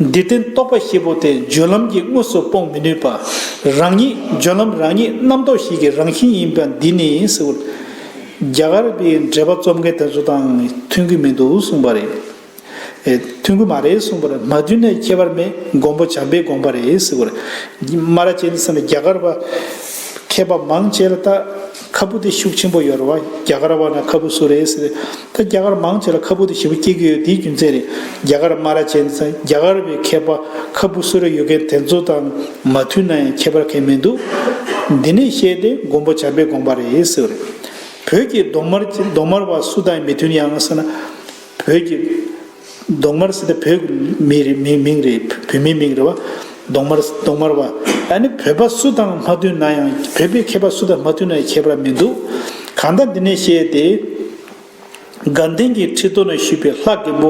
འདིར་བསྟན་རྟོག་པ་ཤེད་པོ་དེ་སྦྱོར་ལམ་གྱིས་དངོས་སུ་སྤོང་མི་ནུས་པ། རང་ཉིད་སྦྱོར་ལམ་རང་ཉིད་རྣམ་རྟོག་ཤེད་ཀྱི་རང་བཞིན་ཡིན་པ་འདི་ནི་སེའུ། རྒྱ་གར་བའི་འགྲེལ་པ་རྩོམ་མཁན་དེ་ཚོ་དང་མཐུན་གྱི་མི་འདུག་གསུངས་པ་རེད། མཐུན་གྱི་མ་རེད་གསུངས་པར་མ་མཐུན་ན་ཁྱད་པར་མེད་མགོན་པོ་བྱམས་པའི་དགོངས་པ་རེད་སེའུ། སྨ་ར་ཅན་ཟེར་ན་རྒྱ་གར་བ་མཁས་པ་མང་ཆེ་ལ་བལྟ། ཁ་སྤུ་དེ་ཤུགས་ཆེན་པོ་ཡོད་རེད་བ་རྒྱ་གར་བ་ན་ཁ་སྤུ་སུ་རེད་ཟེར་ད་རྒྱ་གར་མང་ཆེ་ལ་ཁ་སྤུ་དེ་བཞི་པོ་སྐྱེ་གི་ཡོད་དེའི་རྒྱུ་མཚན་རེད་རྒྱ་གར་སྨ་ར་ཅན་ཚ་རྒྱ་གར་བའི་མཁས་པ་ཁ་སྤུ་སུ་རེད་ཡོད་མཁན་དེ་ཚོ་དང་མ་མཐུན་ན་ཡང་ཁྱད་པར་མཁན་མི་འདུག་འདི་ནས་བཤད་དེ་མགོན་པོ་བྱམས་པའི་དགོངས་པ་རེད་ཟེར་བ་རེད་བོད་ཀྱི་གདོང་དམར་གདོང་དམར་བ་སུ་དང་མི་མཐུན་ཡང་ཟེར་ན་བོད་ཀྱི། གདོང་དམར་སི་ཏེ་བོད་མི་རེད་མི་མིང་རེད་བོད་མི་མིང་རེད་བ། གདོང་དམར་སི་གདོང་དམར་བ། ཨ་ནི་བོད་པ་སུ་དང་མ་མཐུན་ན་ཡང་བོད་པའི་མཁས་པ་སུ་དང་མ་མཐུན་ན་ཡང་ཁྱད་པར་མི་འདུག་གང་ལྟར་འདི་ནས་བཤད་དེ། དགའ་ལྡན་གྱི་ཁྲི་སྟོད་ན་བཞུགས་པའི་ལྷ་རྒན་པོ་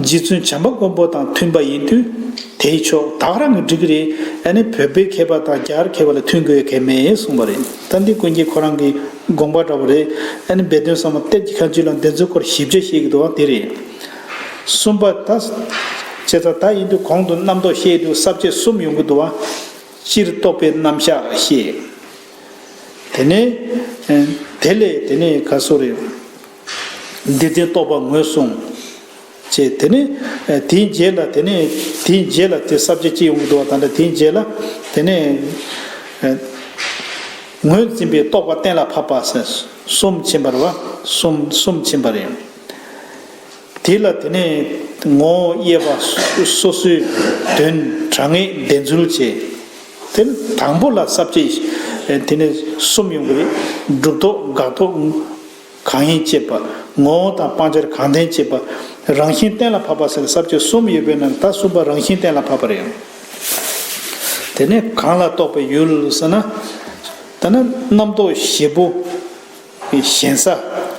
རྗེ་བཙུན་བྱམས་པ་མགོན་པོ་དང་མཐུན་པ་ཡིན་དུས་དེའི་ཕྱོགས་དག་རང་གིས་འགྲིག་གི་རེད་ཨ་ནི་བོད་པའི་མཁས་པ་དང་རྒྱ་གར་མཁས་པ་ལ་མཐུན་དགོས་གལ་མེད་གསུངས་པ་རེད། ད་འདི་ཀུན་གྱིས་ཁོ་རང་གི་དགོངས་པ་འདྲ་བོ་རེད་ཨ་ནི་སྦས་དོན་ཟབ་མོ་གཏེར་གྱི་ཁ་མཆུ་ལ་འདི་ཚོའི་སྐོར་ཞིབ་དཔྱད་བཤད་ཀྱི་འདུག་བ་དེ་རེད། གསུམ་པ། ད་བྱས་ཙང་ད་ཡིན་དུས་གོང་དུ་རྣམ་རྟོག་བཤད་དུས་གསར་བཅད་གསུམ་ཡོང་གི་འདུག་བ། སྤྱིར་རྟོག་པའི་རྣམ་བཞག་བཤད། དེ་ནས། དེ་ལས་དེ་ནས་ག་སོ་རེད། བདེ་ཆེན་རྟོག་པ་ངོས་བཟུང། བྱེད། དེ་ནས། དེའི་རྗེས་ལ་དེ་ནས། དེའི་རྗེས་ལ་དེ་ས་བཅད་གཅིག་ཡོངས་ཀྱི་བསྡུ་བ་དང་འདྲ་དེའི་རྗེས་ལ། དེ་ནས། ངོས་འཛིན་པའི་རྟོག་པ་གཏན་ལ་ཕབ་པ། གསུམ་ཕྱིན་པར་བ། གསུམ་གསུམ་ཕྱིན་པར་ཡང། དེ་ལ་དེ་ནས། ངོ་བོ་དབྱེ་བ། སོ་སོའི། དོན། དྲང་ངེས་བདེན་རྫུན་བྱེད། དེ་ནི་དང་པོ་ལ་ས་བཅད། དེ་ནས་གསུམ་ཡོངས་ཀྱི། སྒྲུབ་རྟོག་དགག་རྟོག། གང་ཡིན་དཔྱད་པ། ངོ་བོ་དང་སྤང་བྱར་གང་ལྡན་དཔྱད་པ། རང་བཞིན་གཏན་ལ་ཕབ་པ་ཟེར་ཟབ་ཆོས་གསུམ་ཡོད་པའི་ནང་ད་གསུམ་པ་རང་བཞིན་གཏན་ལ་ཕབ་པ་རེད་ཨང། དེ་ནས་གང་ལ་རྟོགས་པའི་ཡུལ་ཟེར་ན། ད་ནི་རྣམ་རྟོག་བཞི་པོ། ཞེན་ས།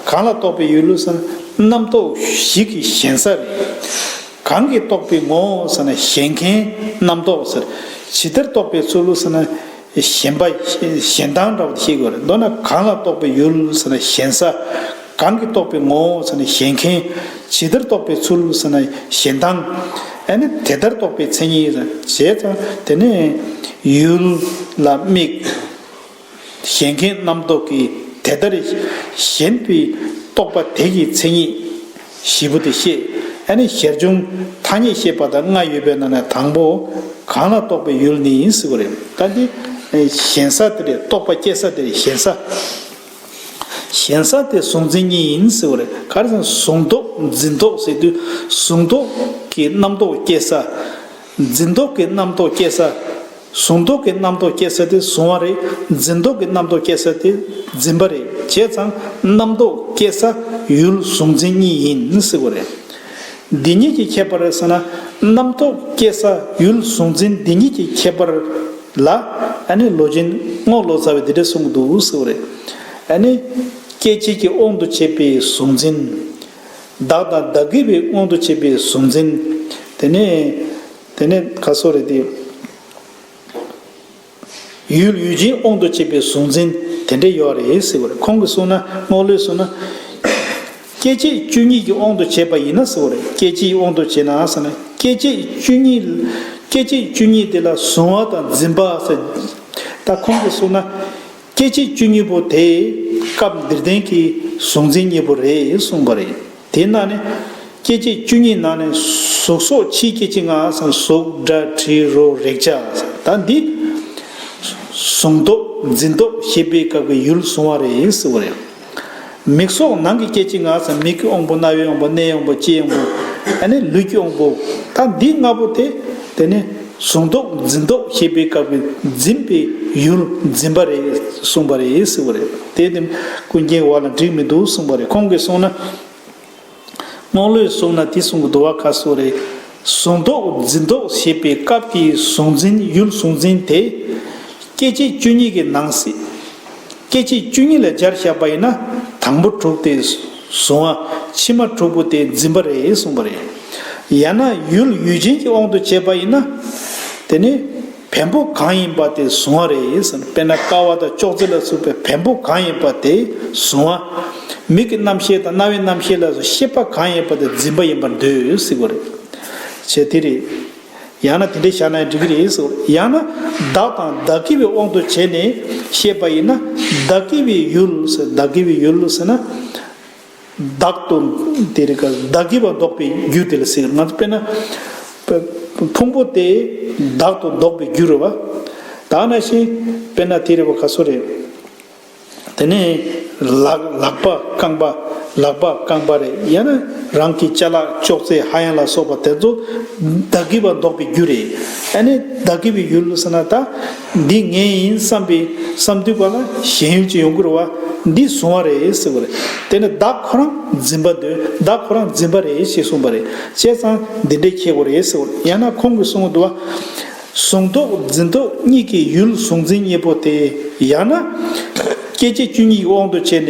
གང་ལ་རྟོགས་པའི་ཡུལ་ཟེར་ན། རྣམ་རྟོག་བཞི་གི་ཞེན་ས་རེད། གང་གིས་རྟོགས་པའི་ངོ་བོ་ཟེར་ན་ཞེན་མཁན་རྣམ་རྟོག་ཟེར། ཇི་ལྟར་རྟོགས་པའི་ཚུལ་ལོ་ཟེར་ན། གཞན་པ། གཞན་དང་འདྲ་བ་དེ་ཤེས་དགོས། མདོར་ན་གང་ལ་རྟོག་པའི་ཡུལ་ཟེར་ན་གཞན་ས། གང་གིས་རྟོག་པའི་ངོ་བོ་ཟེར་ན་གཞན་མཁན། ཇི་ལྟར་རྟོག་པའི་ཚུལ་ཟེར་ན་གཞན་དང། ཨ་ནི་དེ་ལྟར་རྟོག་པའི་མཚན་ཉིད་ཟེར་ན་གཞན་དང། དེ་ནས། ཡུལ་ལ་དམིགས། གཞན་མཁན་རྣམ་རྟོག་གིས་དེ་ལྟར། གཞན་པའི་རྟོག་པ་དེ་ཡི་མཚན་ཉིད། བཞི་པོ་དེ་ཤེས། ནི་ཞེར་འབྱུང། ཐ་སྙད་ཤེས་པ་དང་ལྔ་ཡོད་པའི་ནང་ནས་དང་པོ། གང་ལ་རྟོག་པའི་ཡུལ་ནི་ཡིན་ཟེར་བ་རེད། ལྟ་འདི། གཞན་ས་དེ་རེད་རྟོག་པ་སྐྱེ་ས་དེ་རེད་གཞན་ས། གཞན་ས་དེ་གཟུང་འཛིན་གཉིས་ཡིན་ཟེར་བ་རེད། ག་རེ་ཟེར་ན་གཟུང་རྟོག་འཛིན་རྟོག་ཟེར་དུས་གཟུང་རྟོག་གི་རྣམ་རྟོག་སྐྱེ་ས། འཛིན་རྟོག་གི་རྣམ་རྟོག་སྐྱེ་ས། གཟུང་རྟོག་གི་རྣམ་རྟོག་སྐྱེ་ས་དེ་གཟུང་བ་རེད། འཛིན་རྟོག་གི་རྣམ་རྟོག་སྐྱེ་ས་དེ་འཛིན་པ་རེད། བྱས་ཙང་རྣམ་རྟོག་སྐྱེ་ས་ཡུལ་གཟུང་འཛིན་གཉིས་ཡིན་ཟེར་བ་རེད། འདི་གཉིས་ཀྱི་ཁྱད་པར་རེད་ཟེར་ན། རྣམ་རྟོག་སྐྱེ་ས་ཡུལ་གཟུང་འཛིན་འདི་གཉིས་ཀྱི་ཁྱད་པར་ལ། ཨ་ནི་ལོ་ཆེན་རྔོག་ལོ་ཙཱ་བས་འདི་འདྲ་གསུང་གི་འདུག་ཟེར་བ་རེད། ཨ་ནི། སྐྱེ་མཆེད་ཀྱི་དབང་དུ་བྱས་པའི་གཟུང་འཛིན། བདག་དང་བདག་གི་བའི་དབང་དུ་བྱས་པའི་གཟུང་འཛིན། དེ་ནས། དེ་ནས་ཁ་སོ་རེ་ཏི། ཡུལ་ཡུལ་ཅན་དབང་དུ་བྱས་པའི་གཟུང་འཛིན་དེ་འདྲས་ཡོད་རེད་ཟེར་བ་རེད་ཁོང་གིས་གསུངས་ན་རྔོག་ལོས་གསུངས་ན། སྐྱེ་མཆེད་བཅུ་གཉིས་ཀྱི་དབང་དུ་བྱས་པ་ཡིན་ན་ཟེར་བ་རེད་སྐྱེ་མཆེད་ཀྱི་དབང་དུ་བྱས་ན་ཟེར་ན་སྐྱེ་མཆེད་བཅུ་གཉིས། སྐྱེ་མཆེད་བཅུ་གཉིས་དེ་ལ་གཟུང་བ་དང་འཛིན་པ་ཟེར། ད་ཁོང་གིས་གསུངས་ན། སྐྱེ་མཆེད་བཅུ་གཉིས་པོ་དེ། སྐབས་འདིར་བསྟན་གྱི་གཟུགས་འཛིན་གཉིས་པོ་རེད་གསུངས་པ་རེད། དེས་ན་ནི། སྐྱེ་མཆེད་བཅུ་གཉིས་ནང་ནས་གཟུགས་སོགས་ཕྱིའི་སྐྱེ་མཆེད་ལྔ། གཟུགས་སྒྲ་དྲི་རོ་རེག་བྱ། ད་འདི། གཟུང་རྟོག་འཛིན་རྟོག་ཤེས་པས་བཀག་པའི་ཡུལ་བཟུང་བ་རེད་ཟེར་བ་རེད། མིག་སོགས་ནང་གི་སྐད་ཅིག་ལྔ་སམ་མིག་གི་དབང་པོ་རྣ་བའི་དབང་པོ་སྣའི་དབང་པོ་ལྕེའི་དབང་པོ། ད་ནི་ལུས་ཀྱི་དབང་པོ། ད་འདི་ལྔ་པོ་དེ། དེ་ནི་གཟུང་རྟོག་འཛིན་རྟོག་ཤེས་པའི་སྐབས་ཀྱི་འཛིན་པའི་ཡུལ་འཛིན་པ་རེད་གསུངས་པ་རེད་ཟེར་བ་རེད། དེ་དེ་ཀུན་མཁྱེན་བ་ལ་འགྲིག་མི་འདུག་གསུངས་པ་རེད་ཁོང་གིས་གསུངས་ན། རྔོག་ལོས་བཟུང་ན་དེ་བཟུང་གི་དུ་བ་ཁ་གསོ་རེད། བཟུང་ཟློག་འཛིན་ཟློག་བྱེད་པའི་སྐབས་ཀྱི་བཟུང་འཛིན་ཡུལ་བཟུང་འཛིན་དེ། སྐད་ཅིག་བཅུ་གཉིས་ཀྱི་ནང་གསེས། སྐད་ཅིག་བཅུ་གཉིས་ལས་སྦྱར་བཞག་པ་ཡིན་ན་དང་པོ་དྲུག་སྟེ། བཟུང་བ་ཕྱི་མ་དྲུག་པོ་དེ་འཛིན་པ་རེད་གསུངས་པ་རེད། ཡང་ན་ཡུལ་ཡུལ་ཅན་གྱི་དབང་དུ་བྱས་པ་ཡིན་ན། དེ་ནི། བེམ་པོ་གང་ཡིན་པ་དེ་གཟུང་བ་རེད་ཟེར་ན་དཔེར་ན་ཀ་བ་དང་ཅོག་ཙེ་ལ་ཟུག་པའི་བེམ་པོ་གང་ཡིན་པ་དེ་གཟུང་བ། མིག་གི་རྣམ་ཤེས་དང་རྣ་བའི་རྣམ་ཤེས་ལ་སོགས་ཤེས་པ་གང་ཡིན་པ་དེ་འཛིན་པ་ཡིན་པར་འདོད་སྲིད་པ་རེད། བྱས་དེ་རེད། ཡང་ན་དེ་འདྲའི་བཞག་ན་ཡང་འགྲིག་གི་རེད་ཟེར། ཡང་ན། བདག་དང་བདག་གི་བའི་དབང་དུ་བྱས་ནས་བཤད་པ་ཡིན་ན། བདག་གི་བའི་ཡུལ་ཟེར་བདག་གི་བའི་ཡུལ་ཟེར་ན། བདག་ཏུ་དེ་རིགས་བདག་གིས་པ་བཟློག་པའི་རྒྱུ་དེ་ལ་ཟེར། ང་ཚོ་དཔེར་ན། ཕུང་པོ་དེ་བདག་ཏུ་བཟློག་པའི་རྒྱུ་རུ་བ། ད་ང་ཤི། དཔེར་ན་དེ་རིགས་བ་ག་སོ་རེད། དེ་ནས་ལག་ལག་པ་རྐང་པ་ལག་པ་རྐང་པ་རེད་ཡ་ན་རང་གི་ལྕེ་ལག་ཅོག་ཙེ་ཧ་ཡང་ལ་སོགས་པ་དེ་ཚོ་བདག་གིས་པ་བཟློག་པའི་རྒྱུ་རེད། ཨ་ནི་བདག་གིས་པའི་ཡུལ་ལ་ཟེར་ན་ད། འདི་ངའི་ཡིན་བསམ་པའི་བསམ་དུས་པ་ལ་གཞན་ཡུལ་གྱི་ཡོང་སྒོར་བ་འདི་བཟུང་བ་རེད་ཟེར་བ་རེད་དེ་ནས་བདག་ཁོ་རང་འཛིན་པ་འདོད་བདག་ཁོ་རང་འཛིན་པ་རེད་ཞེས་གསུངས་པ་རེད་བྱས་ཙང་འདི་འདྲས་ཁྱད་དགོས་རེད་ཟེར་བ་རེད་ཡང་ན་ཁོང་གིས་གསུངས་དུ་བ་བཟུང་དོགས་འཛིན་དོགས་གཉིས་ཀྱི་ཡུལ་བཟུང་འཛིན་གཉིས་པོ་དེ་ཡང་ན། སྐད་ཅིག་བཅུ་གཉིས་ཀྱི་དབང་དུ་བྱས་ནས།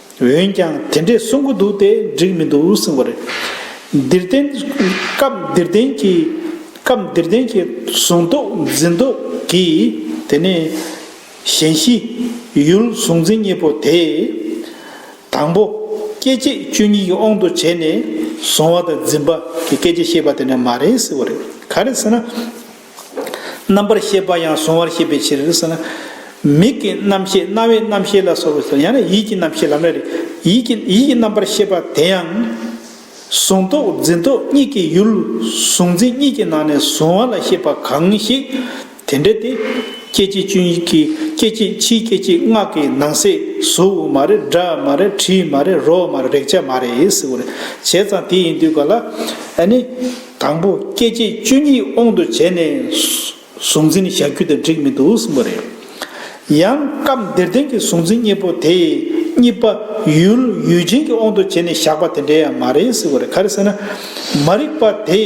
འོན་ཀྱང་དེ་འདྲས་གསུང་གི་འདུག་སྟེ་འགྲིག་མི་འདུག་གསུངས་པ་རེད། འདིར་བསྟན། སྐབས་འདིར་བསྟན་གྱི། སྐབས་འདིར་བསྟན་གྱི། གཟུང་རྟོག་འཛིན་རྟོག་གི། དེ་ནས། གཞན་བཞི། ཡུལ་གཟུང་འཛིན་གཉིས་པོ་དེ། དང་པོ། སྐྱེ་མཆེད་བཅུ་གཉིས་ཀྱི་དབང་དུ་བྱས་ནས། གཟུང་བ་དང་འཛིན་པ་གི་སྐད་ཅིག་ཤེས་པ་དེ་འདྲ་མ་རེད་ཟེར་བ་རེད། ག་རེ་ཟེར་ན། རྣམ་པར་ཤེས་པ་ཡང་གཟུང་བར་བྱེད་པའི་ཕྱིར། མིག་གི་རྣམ་ཤེས་རྣ་བའི་རྣམ་ཤེས་ལ་སོགས་པའི་ཡང་ན་ཡིད་ཀྱི་རྣམ་ཤེས་ལམ་རེ་རེ་ཡིད་ཀྱི་རྣམ་པར་ཤེས་པ་དེ་ཡང། གཟུང་རྟོག་འཛིན་རྟོག་གཉིས་ཀྱི་ཡུལ་གཟུང་འཛིན་གཉིས་ཀྱི་ནང་ནས་གཟུང་བ་ལ་ཤེས་པ་གང་ཞིག་དེ་འདྲ་སྟེ། སྐད་ཅིག་བཅུ་གཉིས་ཀྱི་སྐད་ཅིག་ཕྱིའི་སྐད་ཅིག་སྔགས་ཀྱི་ནང་གསེས་གཟུགས་དབུ་མ་རེད་སྒྲ་མ་རེད་དྲི་མ་རེད་རོ་མ་རེད་རེག་བྱ་མ་རེད་ཟེར་བར་བྱས་ཙང་དེ་ཡིན་དུས་ག་ལ་ཨཱ་ནི། དང་པོ་སྐྱེ་མཆེད་བཅུ་གཉིས་དབང་དུ་བྱས་ནས། གཟུང་འཛིན་བཞག་རྒྱུ་དེ་འགྲིག་མི་འདུག་གསུངས་པ་རེད། ཡང་སྐབས་འདིར་བསྟན་གྱི་གཟུང་འཛིན་གཉིས་པོ་དེ། གཉིས་པ་ཡུལ་ཡུལ་ཅན་གྱི་དབང་དུ་བྱས་ནས་བཞག་པ་དེ་འདྲ་ཡང་མ་རེད་ཟེར་བ་རེད་ག་རེ་ཟེར་ན། མ་རིག་པ་དེ།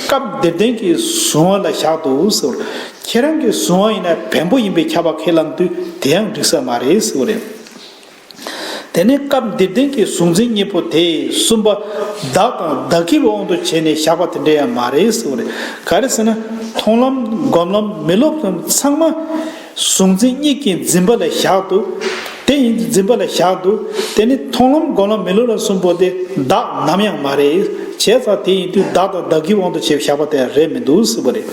སྐབས་འདིར་བསྟན་གྱི་གཟུང་བ་ལ་བཞག་འདུག་ཟེར་བ། ཁྱེད་རང་གི་གཟུང་བ་ཡིན་ན་བེམ་པོ་ཡིན་པས་ཁྱབ་པ་ཁས་བླངས་དུས་དེ་ཡང་འགྲིག་ས་མ་རེད་ཟེར་བ་རེད། དེ་ནས་སྐབས་འདིར་བདེན་གྱི་གཟུང་འཛིན་གཉིས་པོ་དེ་གསུམ་པ། བདག་དང་བདག་གིར་དབང་དུ་བྱས་ནས་བཞག་པ་དེ་འདྲ་ཡང་མ་རེད་ཟེར་བ་རེད། ག་རེ་ཟེར་ན། མཐོང་ལམ། སྒོམ་ལམ། མི་སློབ་ལམ་ཚང་མ། གཟུང་འཛིན་གཉིས་ཀྱིས་འཛིན་པ་ལ་བཞག་འདུག། དེ་ཡིན་འཛིན་པ་ལ་བཞག་འདུག་དེ་ནི་མཐོང་ལམ་སྒོམ་ལམ་མི་སློབ་ལམ་གསུམ་པོ་དེ་བདག་ནམ་ཡང་མ་རེད། བྱས་ཙང་དེ་ཡིན་དུས་བདག་དང་བདག་གིར་དབང་དུ་བྱས་བཞག་པ་དེ་རེད་མི་འདུག་ཟེར་བ་རེད།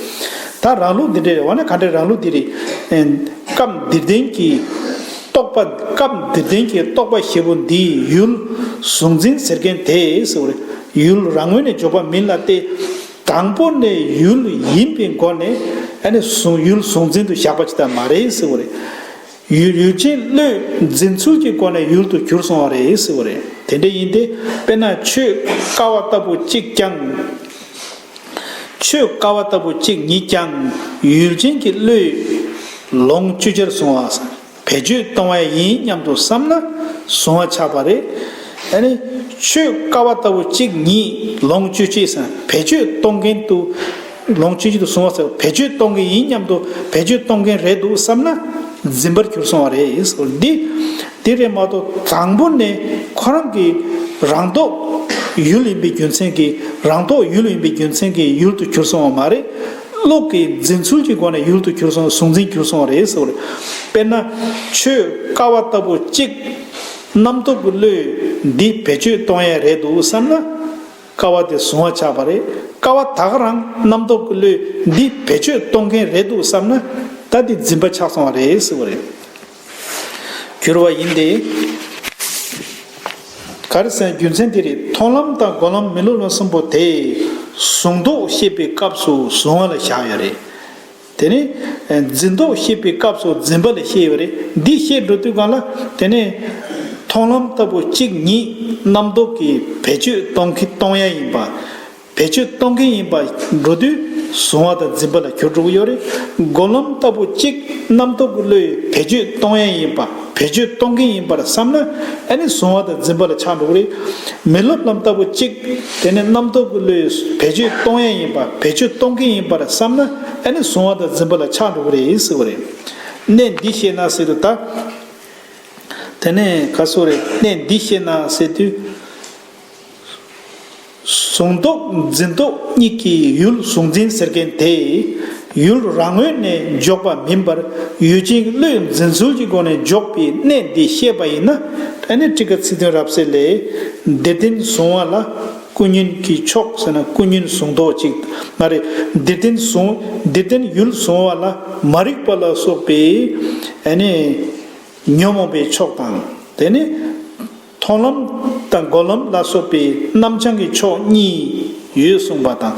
ད་རང་ལུགས་འདི་འདྲ་རེད། འོ་ན་ག་འདྲའི་རང་ལུགས་འདི་རེད། སྐབས་འདིར་བདེན་གྱི། རྟོགས་པ། སྐབས་འདིར་བདེན་གྱི་རྟོགས་པ་བཞི་པོ་འདི་ཡུལ། གཟུང་འཛིན་ཟེར་མཁན་དེས། ཡུལ་རང་ངོས་ནས་འཇོག་པ་མིན་ལ་སྟེ། དང་པོ་ནས་ཡུལ་ཡིན་པའི་སྒོ་ནས། ཡུལ་གཟུང་འཛིན་དུ་བཞག་པ་ཇི་ལྟར་མ་རེད། ཡུལ་ཡུལ་ཅན་བློས་འཛིན་ཚུལ་གྱི་སྒོ་ནས་ཡུལ་དུ་གྱུར་སོང་བ་རེད། དེ་འདྲ་ཡིན་ཏེ། དཔེར་ན་ཆོས་དཀའ་བ་ལྟ་བུ་གཅིག་ཀྱང། ཆོས་དཀའ་བ་ལྟ་བུ་གཅིག་ཉིད་ཀྱང། ཡུལ་ཅན་གྱི་བློས། ལོངས་སྤྱོད་ཆར་བཟུང་བ། བེད་སྤྱོད་གཏོང་བས་ཡིན་སྙམ་དུ་བསམ་ན། བཟུང་བ་ཆགས་པ་རེད། ཆོས་དཀའ་བ་ལྟ་བུ་གཅིག་ཉིད་ལོངས་སྤྱོད་ཆེ་སའི་བེད་སྤྱོད་གཏོང་མཁན་དུ། ལོངས་སྤྱོད་ཆེ་དུ་བཟུང་བ་སོགས་བེད་སྤྱོད་གཏོང་མཁན་ཡིན་སྙམ་དུ་བེད་སྤྱོད་གཏོང་མཁན་རེད་འདུག་བསམ་ན། འཛིན་པར་གྱུར་སོང་བ་རེད། འདི། དེ་བས་མ་གཏོགས་དང་པོ་ནས་ཁོ་རང་གི་རང་རྟོགས་ཡུལ་ཡིན་པའི་རྒྱུ་མཚན་གྱིས་རང་རྟོགས་ཡུལ་ཡིན་པའི་རྒྱུ་མཚན་གྱིས་ཡུལ་དུ་གྱུར་སོང་བ་མ་རེད། བློ་གི་འཛིན་ཚུལ་གྱི་སྒོ་ནས་ཡུལ་དུ་གྱུར་སོང་གཟུང་འཛིན་གྱུར་སོང་རེད་ཟེར་བ་རེད། དཔེར་ན། ཆོས་དཀའ་བ་ལྟ་བུ་གཅིག། རྣམ་རྟོག་གི་བློས་འདི་བེད་སྤྱོད་གཏོང་ཡས་རེད་འདུག་བསམ་ན། དཀའ་བ་དེ་གཟུང་བ་ཆགས་པ་རེད། དཀའ་བ་དག་རང་རྣམ་རྟོག་གི་བློས་འདི་བེད་སྤྱོད་གཏོང་མཁན་རེད་འདུག་བསམ་ན། ད་དེ་འཛིན་པ་ཆགས་སོང་བ་རེད་ཟེར་བ་རེད། གྱུར་བ་ཡིན་ཏེ། གར་སའི་རྒྱུ་མཚན་དེ་རེད་མཐོང་ལམ་དང་གོ་ལམ་མི་སློབ་ལམ་གསུམ་པོ་དེ། གཟུང་རྟོག་ཤེས་པའི་སྐབས་སུ་གཟུང་བ་ལས་བཞག་ཡོད་རེད། དེ་ནས། འཛིན་རྟོག་ཤེས་པའི་སྐབས་སུ་འཛིན་པ་ལས་ཤེས་ཡོད་རེད་འདི་བཤད་འགྲོ་དུས་གང་ལ། དེ་ནས། མཐོང་ལམ་ལྟ་བུ་གཅིག་ཉིད་རྣམ་རྟོག་གིས་བེད་སྤྱོད་གཏོང་གི་གཏོང་ཡ་ཡིན་པ། བེད་སྤྱོད་གཏོང་མཁན་ཡིན་པ་འགྲོ་དུས་བཟུང་བ་དང་འཛིན་པ་ལ་གྱུར་འགྲོ་གི་ཡོད་རེད། མགོ་ལོམ་ལྟ་བུ་གཅིག་རྣམ་རྟོག་གི་བློ་ཡིས་བེད་སྤྱོད་གཏོང་ཡན་ཡིན་པ་བེད་སྤྱོད་གཏོང་མཁན་ཡིན་པར་བསམ་ན་ཨེ་ནི་བཟུང་བ་དང་འཛིན་པ་ལ་ཆགས་འགྲོ་གི་རེད། མི་སློབ་ལམ་ལྟ་བུ་གཅིག་དེ་ནི་རྣམ་རྟོག་གི་བློ་ཡིས་བེད་སྤྱོད་གཏོང་ཡན་ཡིན་པ་བེད་སྤྱོད་གཏོང་མཁན་ཡིན་པར་བསམ་ན་ཨེ་ནི་བཟུང་བ་དང་འཛིན་པ་ལ་ཆགས་འགྲོ་གི་རེད་ཟེར་བ་རེད། གནད་འདི་ཤེས་ན་ཟེར་དུས་ད་དེ་ནས་ག་སོ་རེད་གནད་འདི་ཤེས་ན་ཟེར་དུས། བཟུང་རྟོག་འཛིན་རྟོག་གཉིས་ཀྱི་ཡུལ་གཟུང་འཛིན་ཟེར་མཁན་དེས་ཡུལ་རང་ངོས་ནས་འཇོག་པ་མིན་པར་ཡུལ་ཅན་བློས་འཛིན་ཚུལ་གྱི་སྒོ་ནས་འཇོག་པའི་གནད་འདི་ཤེས་པ་ཡིན་ན་ཨ་ནེ་ཀྲི་ཀ་ཚིག་དོན་རབ་གསལ་ལས། འདིར་བསྟན་བཟུང་བ་ལ་ཀུན་ཉོན་གྱི་ཕྱོགས་ཟེར་ན་ཀུན་ཉོན་བཟུང་རྟོག་ཅིག་མ་རེད། འདིར་བསྟན་བཟུང་འདིར་བསྟན་ཡུལ་བཟུང་བ་ལ་མ་རིག་པ་ལ་སོགས་པའི་ཨ་ནེ། ཉོན་མོངས་པའི་ཕྱོགས་དང་དེ་ནི། མཐོང་ལམ་དང་སྒོམ་ལམ་ལ་སོགས་པའི་རྣམ་བྱང་གི་ཕྱོགས་གཉིས་ཡོད་གསུངས་པ་དང།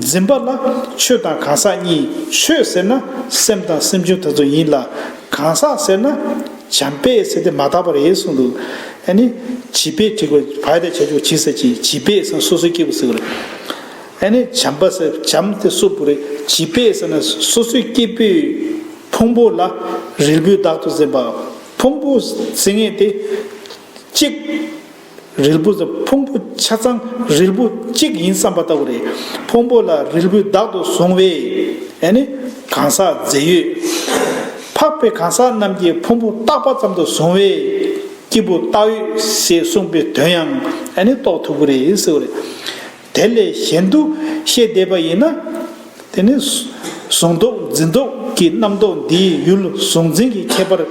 འཛིན་པ་ལ་ཆོས་དང་གང་ཟག་གཉིས་ཆོས་ཟེར་ན་སེམས་དང་སེམས་བྱུང་དེ་ཚོ་ཡིན་ལ། གང་ཟག་ཟེར་ན་བྱམས་པས་ཟེར་ཏེ་མ་དག་པར་ཡེ་གསུངས་འདུག་ཨ་ནི། བྱིས་པས་དྲིས་པ་བའི་དེ་བྱ་ཆོག་བྱིས་ཟེར་གྱིས་བྱིས་པས་ཟེར་ན་སོ་སོའི་སྐྱེས་བུ་ཟེར་བ་རེད། ཨ་ནི། བྱམས་པ་ཟེར་བྱམས་དེ་སོ་བུ་རེད་བྱིས་པས་ཟེར་ན་སོ་སོའི་སྐྱེས་བུའི་ཕུང་པོ་ལ་རིལ་བུའི་བདག་ཏུ་འཛིན་པའོ། ཕུང་པོ་ཟིན་ངེས་ཏེ། གཅིག། རིལ་བུ་ཟ་ཕུང་པོ་ཆ་ཚང་རིལ་བུ་གཅིག་ཡིན་བསམ་པ་ལྟ་བུ་རེད། ཕུང་པོ་ལ་རིལ་བུས་བདག་ཏུ་བཟུང་བས། ཨེ་ནི། གང་ཟག་རྫས་ཡོད། འཕགས་པའི་གང་ཟག་རྣམས་ཀྱིས་ཕུང་པོ་རྟག་པ་ཙམ་དུ་བཟུང་བས། སྐྱེས་བུ་རྟག་ཡོད་ཞེས་གསུངས་པའི་དོན་ཡང་ཨེ་ནི་རྟོགས་ཐུབ་ཀྱི་རེད་ཟེར་བ་རེད། དེ་ལས་གཞན་དུ་ཤེས་བསྡད་པ་ཡིན་ན། དེ་ནི། གཟུང་རྟོག་འཛིན་རྟོག་གི་རྣམ་རྟོག་འདིའི་ཡུལ་གཟུང་འཛིན་གྱི་ཁྱད་པར།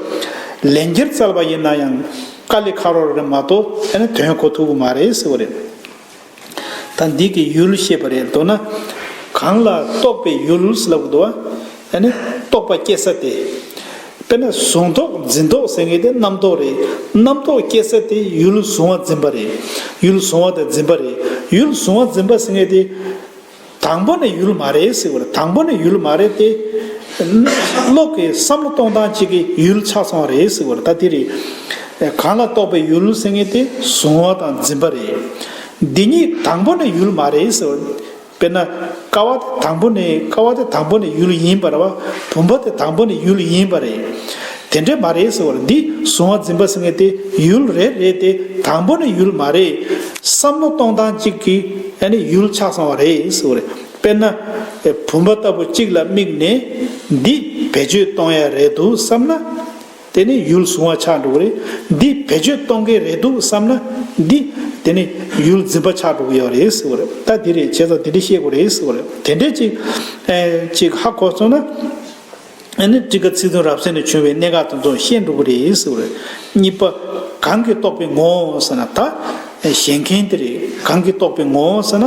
ལན་བརྒྱར་བཙལ་བ་ཡིན་ན་ཡང་ཀ་ལི་ཁ་རོ་རེད་མ་གཏོགས་དེ་ནི་དོན་གོ་ཐུབ་ཀྱི་མ་རེད་ཟེར་བ་རེད། ད་འདི་གི་ཡུལ་ཤེས་པ་རེད་འདོད་ན། གང་ལ་རྟོག་པའི་ཡུལ་ལབ་དགོས། ཡང་ན་རྟོག་པ་སྐྱེ་ས་སྟེ། དཔེར་ན་གཟུང་རྟོག་འཛིན་རྟོག་ཟེར་མཁན་དེ་རྣམ་རྟོག་རེད། རྣམ་རྟོག་སྐྱེ་ས་དེ་ཡུལ་གཟུང་བ་འཛིན་པ་རེད། ཡུལ་གཟུང་བ་དང་འཛིན་པ་རེད། ཡུལ་གཟུང་བ་འཛིན་པ་ཟེར་མཁན་དེ། དང་པོ་ནས་ཡུལ་མ་རེད་ཟེར་བར་དང་པོ་ནས་ཡུལ་མ་རེད་དེ། བློ་གི་བསམ་བློ་གཏོང་སྟངས་གཅིག་གིས་ཡུལ་ཆགས་སོང་བ་རེད་ཟེར་བར་ད་དེ་རེད། གང་ལ་རྟོག་པའི་ཡུལ་ཟེར་མཁན་དེ་གཟུང་བ་དང་འཛིན་པ་རེད། འདི་གཉིས་དང་པོ་ནས་ཡུལ་མ་རེད་ཟེར་བར། དཔེར་ན། ཀ་བ་དེ་དང་པོ་ནི་ཀ་བ་དེ་དང་པོ་ནི་ཡུལ་ཡིན་པར་བ་བུམ་པ་དེ་དང་པོ་ནི་ཡུལ་ཡིན་པ་རེད། དེ་འདྲས་མ་རེད་ཟེར་བར་འདིས་གཟུང་བ་འཛིན་པ་ཟེར་ངེས་ཏེ་ཡུལ་རེད་རེད་དེ་དང་པོ་ནི་ཡུལ་མ་རེད། བསམ་བློ་གཏོང་སྟངས་གཅིག་གིས་ནི་ཡུལ་ཆགས་སོང་བ་རེད་ཟེར་བ་རེད། དཔེར་ན། བུམ་པ་ལྟ་བུ་གཅིག་ལ་དམིགས་ནས་འདིས་བེད་སྤྱོད་གཏོང་ཡ་རེད་འདུག་བསམ་ན། དེ་ནི་ཡུལ་བཟུང་བ་ཆགས་འགྲོ་གི་རེད། འདི་བེད་སྤྱོད་གཏོང་གི་རེད་འདུག་བསམ་ན། འདི། དེ་ནི་ཡུལ་འཛིན་པ་ཆགས་འགྲོ་གི་ཡོད་རེད་ཟེར་བ་རེད། ད་དེ་རེད་བྱས་ཙང་དེ་འདྲས་བཤད་དགོས་རེད་ཟེར་བ་རེད། དེ་འདྲས་ཅིག། ཅིག་ཧ་གོ་སོང་ན། ཨ་ནི་ཀྲི་ཀ་ཚིག་དོན་རབ་གསལ་ནས་བྱུང་བའི་གནད་འགག་དེ་ཚོ་ཤེས་འགྲོ་གི་རེད་ཟེར་བ་རེད། གཉིས་པ། གང་གིས་རྟོགས་པའི་ངོ་བོ་ཟེར་ན་ད། བཞེངས་མཁན་དེ་རེད། གང་གིས་རྟོགས་པའི་ངོ་བོ་ཟེར་ན།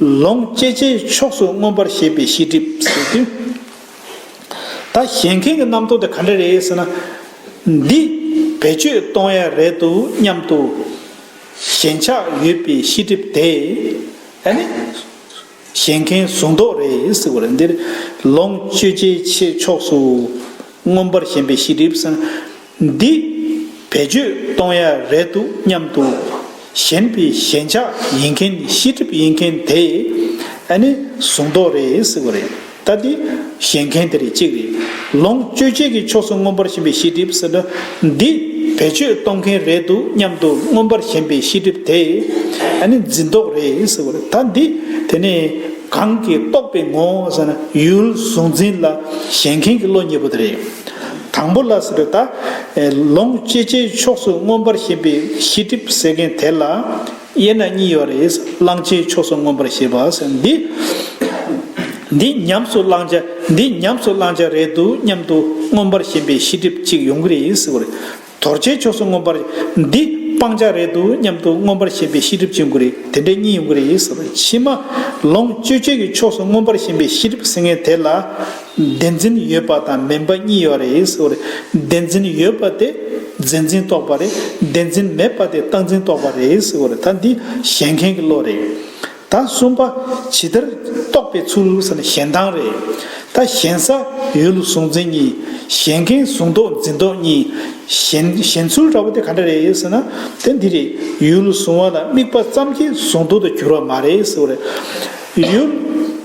ལོངས་སྤྱད་བྱའི་ཕྱོགས་སུ་མངོན་པར་ཤེས་པའི་ཤེས་སྒྲིབ་ཟད་དུས། ད་གཞན་མཁན་གྱི་རྣམ་རྟོག་དེ་ག་འདྲ་རེད་ཟེར་ན། འདི་བེད་སྤྱོད་གཏོང་ཡ་རེད་འདུག་སྙམ་དུ། ཞེན་ཆགས་ཡོད་པའི་ཤེས་སྒྲིབ་དེ། ཨ་ནི། གཞན་མཁན་གཟུང་རྟོག་རེད་ཟེར་བ་རེད། འདིར་ལོངས་སྤྱོད་བྱའི་ཕྱོགས་སུ་མངོན་པར་ཞེན་པའི་ཤེས་སྒྲིབ་ཟེར་ན། འདི། བེད་སྤྱོད་གཏོང་ཡ་རེད་འདུག་སྙམ་འདུག་གཞན་པའི་ཞེན་ཆགས་ཡིན་མཁན་ཤི་གྲིབ་ཡིན་མཁན་དེ། ཨ་ནི་གཟུང་རྟོག་རེད་ཟེར་བ་རེད་ད་དེ། ཞེན་མཁན་དེ་རེད་གཅིག་རེད། ལོངས་སྤྱོད་ཆེད་ཀྱི་ཕྱོགས་སུ་མངོན་པར་ཞེན་པའི་ཤི་གྲིབ་ཟེར་ན། འདི། བེད་སྤྱོད་གཏོང་མཁན་རེད་འདུག་སྙམ་འདུག་མངོན་པར་ཞེན་པའི་ཤི་གྲིབ་དེ། ཨ་ནི་འཛིན་རྟོག་རེད་ཟེར་བ་རེད་ད་འདི། དེ་ནས། གང་གིས་རྟོགས་པའི་ངོ་བོ་ཟེར་ན་ཡུལ་གཟུང་འཛིན་ལ་ཞེན་མཁན་གྱི་བློ་ཉེ་པོ་དེ་རེད། དང་པོ་ལ་སི་རི་ད། ལོངས་སྤྱད་རྗེས་ཕྱོགས་སུ་མངོན་པར་ཞེན་པའི་ཤེས་སྒྲིབ་ཟད་མཁན་དེ་ལ། དབྱེ་ན་གཉིས་ཡོད་རེད། བླང་བྱའི་ཕྱོགས་སུ་མངོན་པར་ཞེས་པ། འདི། འདི་ཉམས་སུ་བླང་བྱ་འདི་ཉམས་སུ་བླང་བྱ་རེད་འདུག་སྙམ་དུ་མངོན་པར་ཞེན་པའི་ཤེས་སྒྲིབ་ཅིག་ཡོང་གི་རེད། དོར་བྱའི་ཕྱོགས་སུ་མངོན་པར། འདི་སྤང་བྱ་རེད་འདུག་སྙམ་དུ་མངོན་པར་ཞེན་པའི་ཤེས་སྒྲིབ་ཅིག་ཡོང་གི་རེད། དེ་འདྲ་གཉིས་ཡོང་གི་རེད། ཕྱི་མ། ལོངས་སྤྱོད་བྱེད་ཀྱི་ཕྱོགས་སུ་མངོན་པར་ཞེན་པའི་ཤེས་སྒྲིབ་ཟད་མཁན་དེ་ལ། བདེན་འཛིན་ཡོད་པ་དང་མིན་པ་གཉིས་ཡོད་རེད་ཟེར་བ་རེད། བདེན་འཛིན་ཡོད་པ་དེ་རྫས་འཛིན་རྟོག་པ་རེད། བདེན་འཛིན་མེད་པ་དེ་རྟགས་འཛིན་རྟོག་པ་རེད་ཟེར་བ་རེད་ད་འདི་བཞེངས་མཁན་གྱི་བློ་རེད། ད་གསུམ་པ་ཇི་ལྟར་རྟོགས་པའི་ཚུལ་ཟེར་ན་བཞེངས་སྟངས་རེད། ད་བཞེངས་ས་ཡུལ་ལ་གཟུང་འཛིན་གཉིས། བཞེངས་མཁན་གཟུང་རྟོག་འཛིན་རྟོག་གཉིས། བཞེངས་བཞེངས་ཚུལ་འདྲ་བོ་དེ་ག་འདྲ་རེད་ཟེར་ན་དེ་འདི་རེད། ཡུལ་ལ་གཟུང་བ་ལ་དམིགས་པ་ཙམ་གྱིས་གཟུང་རྟོག་ཏུ་གྱུར་བ་མ་རེད་ཟེར་བ་རེད། ཡུལ་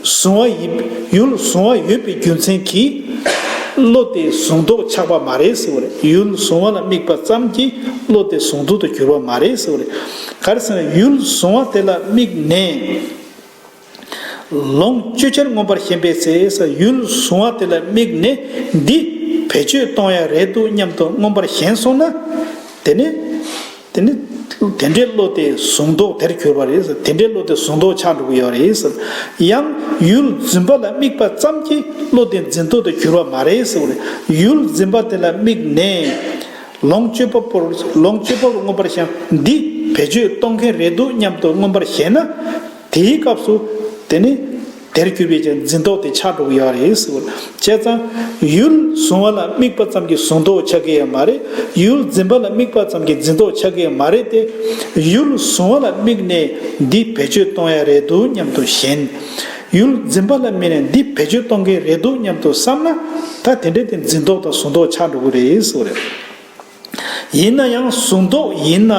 བཟུང་བ་ཡིན་ཡུལ་བཟུང་བ་ཡོད་པའི་རྒྱུ་མཚན་གྱིས། བློ་དེ་བཟུང་དོགས་ཆགས་པ་མ་རེད་ཟེར་བ་རེད་ཡུལ་བཟུང་བ་ལ་དམིགས་པ་ཙམ་གྱིས་བློ་དེ་བཟུང་དོགས་དུ་གྱུར་པ་མ་རེད་ཟེར་བ་རེད། ག་རེ་ཟེར་ན་ཡུལ་བཟུང་བ་དེ་ལ་དམིགས་ནས། ལོངས་སྤྱོད་ཆར་མངོན་པར་ཞེན་པའི་ཚེ་ས་ཡུལ་བཟུང་བ་དེ་ལ་དམིགས་ནས་འདི་བེད་སྤྱོད་གཏོང་ཡ་རེད་འདུག་སྙམ་དུ་མངོན་པར་ཞེན་སོང་ན། དེ་ནི། དེ་ནི་དེ་འདྲའི་བློ་དེ་བཟུང་མདོག་དེར་གྱུར་པ་རེད། དེ་འདྲའི་བློ་དེ་བཟུང་མདོག་ཆགས་འགྲོ་གི་ཡོད་རེད། ཡང་ཡུལ་འཛིན་པ་ལ་དམིགས་པ་ཙམ་གྱིས་བློ་དེ་འཛིན་མདོག་དུ་གྱུར་བ་མ་རེད། ཡུལ་འཛིན་པ་དེ་ལ་དམིགས་ནས་ལོངས་སྤྱོད་པ་པོར་ལོངས་སྤྱོད་པ་པོར་མངོན་པར་ཞེན་པ་འདི་བེད་སྤྱོད་གཏོང་མཁན་རེད་འདུག་སྙམ་དུ་མངོན་པར་ཞེན་ན། དེའི་སྐབས་སུ། དེ་ནི། དེར་གྱུར་པའི་ཀྱང་འཛིན་རྟོག་དེ་ཆགས་འགྲོ་གི་ཡོད་རེད་ཟེར་བ། བྱས་ཙང། ཡུལ་གཟུང་བ་ལ་དམིགས་པ་ཙམ་གྱི་གཟུང་རྟོག་ཆགས་ཀྱི་ཡོད་མ་རེད། ཡུལ་འཛིན་པ་ལ་དམིགས་པ་ཙམ་གྱི་འཛིན་རྟོག་ཆགས་ཀྱི་ཡོད་མ་རེད་དེ། ཡུལ་གཟུང་བ་ལ་དམིགས་ནས་འདི་བེད་སྤྱོད་གཏོང་ཡ་རེད་འདུག་སྙམ་དུ་ཞེན། ཡུལ་འཛིན་པ་ལ་དམིགས་ནས་འདི་བེད་སྤྱོད་གཏོང་གི་རེད་འདུག་སྙམ་དུ་བསམ་ན། ད་དེ་འདྲའི་དེ་འཛིན་རྟོག་དང་གཟུང་རྟོག་ཆགས་འགྲོ་གི་རེད་ཟེར་བ་རེད། ཡིན་ན་ཡང་གཟུང་རྟོག་ཡིན་ན།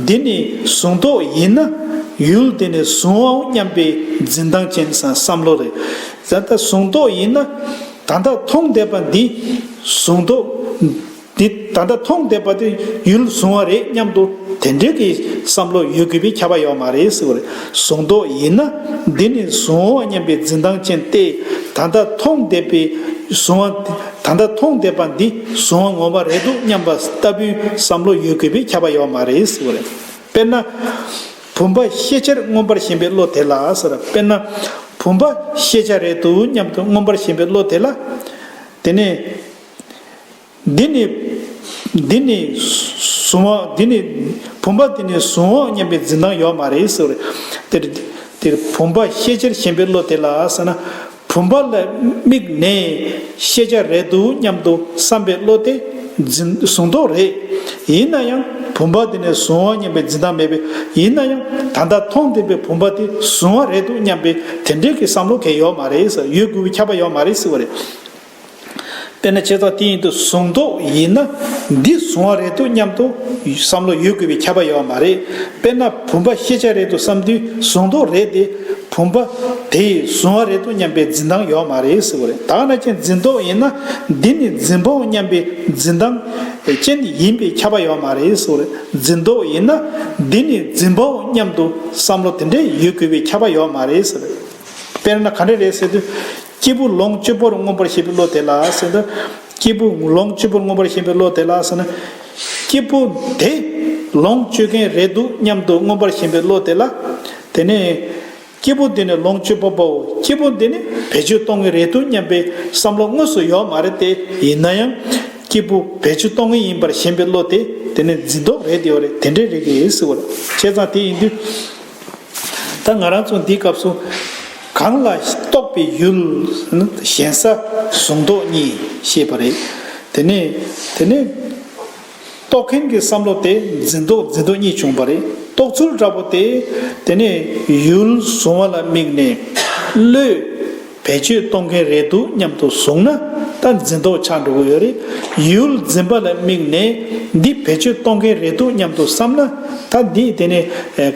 འདི་ནི་གཟུང་རྟོག་ཡིན་ན། ཡུལ་དེ་ནི་གཟུང་བའོ་སྙམ་པའི་འཛིན་སྟངས་ཅན་བསམ་བློ་རེད། ད་ལྟ་གཟུང་རྟོག་ཡིན་ན། ད་ལྟ་མཐོང་བསྡད་པ་འདི་གཟུང་རྟོག། འདི་ད་ལྟ་མཐོང་བསྡད་པ་དེ་ཡུལ་གཟུང་བ་རེད་སྙམ་དུ་དེ་འདྲའི་གི་བསམ་བློ་ཡོད་དགོས་པའི་ཁྱབ་པ་ཡོད་མ་རེད་ཟེར་བ་རེད། གཟུང་རྟོག་ཡིན་ན། འདི་ནི་གཟུང་བའོ་སྙམ་པའི་འཛིན་སྟངས་ཅན་ཏེ། ད་ལྟ་མཐོང་བསྡད་པའི་གཟུང་བ། ད་ལྟ་མཐོང་བསྡད་པ་འདི་གཟུང་བ་ངོ་མ་རེད་འདུག་སྙམ་པ་ལྟ་བུའི་བསམ་བློ་ཡོད་དགོས་པའི་ཁྱབ་པ་ཡོད་མ་རེད་ཟེར་བ་རེད། དཔེར་ན། བུམ་པ་ཤེས་བྱར་མངོན་པར་ཞེན་པའི་བློ་དེ་ལ་ཟེར། དཔེར་ན། བུམ་པ་ཤེས་བྱ་རེད་འདུག་སྙམ་དུ་མངོན་པར་ཞེན་པའི་བློ་དེ་ལ། དེ་ནས། འདི་ནི། འདི་ནི། གཟུང་བ་འདི་ནི། བུམ་པ་འདི་ནི་གཟུང་འོང་སྙམ་པའི་འཛིན་སྟངས་ཡོད་མ་རེད་ཟེར་བ་རེད། དེར། བུམ་པ་ཤེས་བྱར་ཞེན་པའི་བློ་དེ་ལ་ཟེར་ན། བུམ་པ་ལ་དམིགས་ནས་ཤེས་བྱ་རེད་འདུག་སྙམ་དུ་བསམ་པའི་བློ་དེ་འཛིན་བཟུང་རྟོགས་རེད། ཡིན་ན་ཡང་བུམ་པ་དེ་ནས་བཟུང་བ་སྙམ་པའི་འཛིན་སྟངས་མེད་པས་ཡིན་ན་ཡང་ད་ལྟ་མཐོང་བདེན་པའི་བུམ་པ་དེ་བཟུང་བ་རེད་འདུག་སྙམ་པའི་དེ་འདྲའི་གི་བསམ་བློ་གས་ཡོད་མ་རེད་ཡོད་དགོས་ཀྱི་ཁྱབ་པ་ཡོད་མ་རེད་སྲིད་པ་རེད། དཔེར་ན་བྱས་ཙང་དེ་ཡིན་དུ་བཟུང་མདོག་ཡིན་ན་འདི་བཟུང་བ་རེད་འདུག་སྙམ་དུ་བསམ་བློ་ཡོད་དགོས་པའི་ཁྱབ་པ་ཡོད་པ་མ་རེད། དཔེར་ན་བུམ་པ་ཤེས་བྱ་རེད་འདུག་བསམ་དུས་བཟུང་མདོག་རེད་དེ། བུམ་པ་དེ་བཟུང་བ་རེད་འདུག་སྙམ་པའི་འཛིན་སྟངས་ཡོད་མ་རེད་ཟེར་བ་རེད། དག་ན་ཁྱེད་འཛིན་མདོག་ཡིན་ན་འདི་ནི་འཛིན་པའོ་སྙམ་པའི་འཛིན་སྟངས་ཅན་ཡིན་པའི་ཁྱབ་པ་ཡོད་མ་རེད་ཟེར་བ་རེད། འཛིན་མདོག་ཡིན་ན་འདི་ནི་འཛིན་པའོ་སྙམ་དུ་བསམ་བློ་དེ་འདྲའི་ཡོད་དགོས་པའི་ཁྱབ་པ་ཡོད་མ་རེད་ཟེར་བ་རེད། དཔེར་ན་ག་འདྲ་རེད་ཟེར་དུས། སྐྱེས་བུ་ལོངས་སྤྱོད་པོར་མངོན་པར་ཤེས་པའི་བློ་དེ་ལ་ཟེར། སྐྱེས་བུ་ལོངས་སྤྱོད་པོར་མངོན་པར་ཤེས་པའི་བློ་དེ་ལ་ཟེར་ན། སྐྱེས་བུ་དེ་ལོངས་སྤྱོད་མཁན་རེད་འདུག་སྙམ་དུ་མངོན་པར་ཞེན་པའི་བློ་དེ་ལ། དེ་ནས། སྐྱེས་བུ་འདི་ནི་ལོངས་སྤྱོད་པ་པོའོ་སྐྱེས་བུ་འདི་ནི་བེད་སྤྱོད་གཏོང་ངེས་རེད་འདུག་སྙམ་པའི་བསམ་བློ་དངོས་སུ་ཡོད་མ་རེད་དེ་ཡིན་ན་ཡང། སྐྱེས་བུ་བེད་སྤྱོད་གཏོང་ངེས་ཡིན་པར་ཞེན་པའི་བློ་དེ་དེ་ནི་འཛིན་རྟོག་རེད་དེ་ཡོད་རེད་དེ་འདྲའི་རེད་གི་ཟེར་བ་རེད། བྱས་ཙང་དེ་ཡིན་དུས། ད་ང་རང་ཚོ་འདིའི་སྐབས་སུ། གང་ལ་རྟོགས་པའི་ཡུལ། གཞན་ས་གཟུང་རྟོག་གཉིས་ཤེས་པ་རེད། དེ་ནས། དེ་ནས། རྟོགས་མཁན་གྱི་བསམ་བློ་དེ་འཛིན་རྟོག་འཛིན་རྟོག་གཉིས་བྱུང་བ་རེད། རྟོགས་ཚུལ་འདྲ་པོ་དེ། དེ་ནས། ཡུལ་གཟུང་བ་ལ་དམིགས་ནས། བློས། བེད་སྤྱོད་གཏོང་མཁན་རེད་འདུག་སྙམ་དུ་བཟུང་ན་ད་འཛིན་དོགས་ཆགས་འགྲོ་གི་ཡོད་རེད། ཡུལ་འཛིན་པ་ལ་དམིགས་ནས་འདི་བེད་སྤྱོད་གཏོང་མཁན་རེད་འདུག་སྙམ་དུ་བསམ་ན་ད་འདི་དེ་ནས་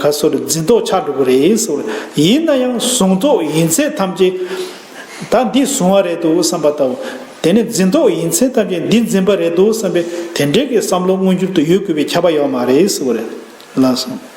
ག་སོར་འཛིན་དོགས་ཆགས་འགྲོ་གི་རེད། ཡིན་ན་ཡང་བཟུང་དོགས་ཡིན་ཚད་ཐམས་ཅད་ད་འདི་བཟུང་བ་རེད་འདུག་བསམ་པ་ལྟ་བུ། དེ་ནས་འཛིན་དོགས་ཡིན་ཚད་ཐམས་ཅད་འདི་འཛིན་པ་རེད་འདུག་བསམ་པའི་དེ་འདྲའི་གི་བསམ་བློ་མངོན་འགྱུར་དུ་ཡོད་དགོས་པའི་ཁྱབ་པ་ཡོད་མ་རེད། ལགས་སོ།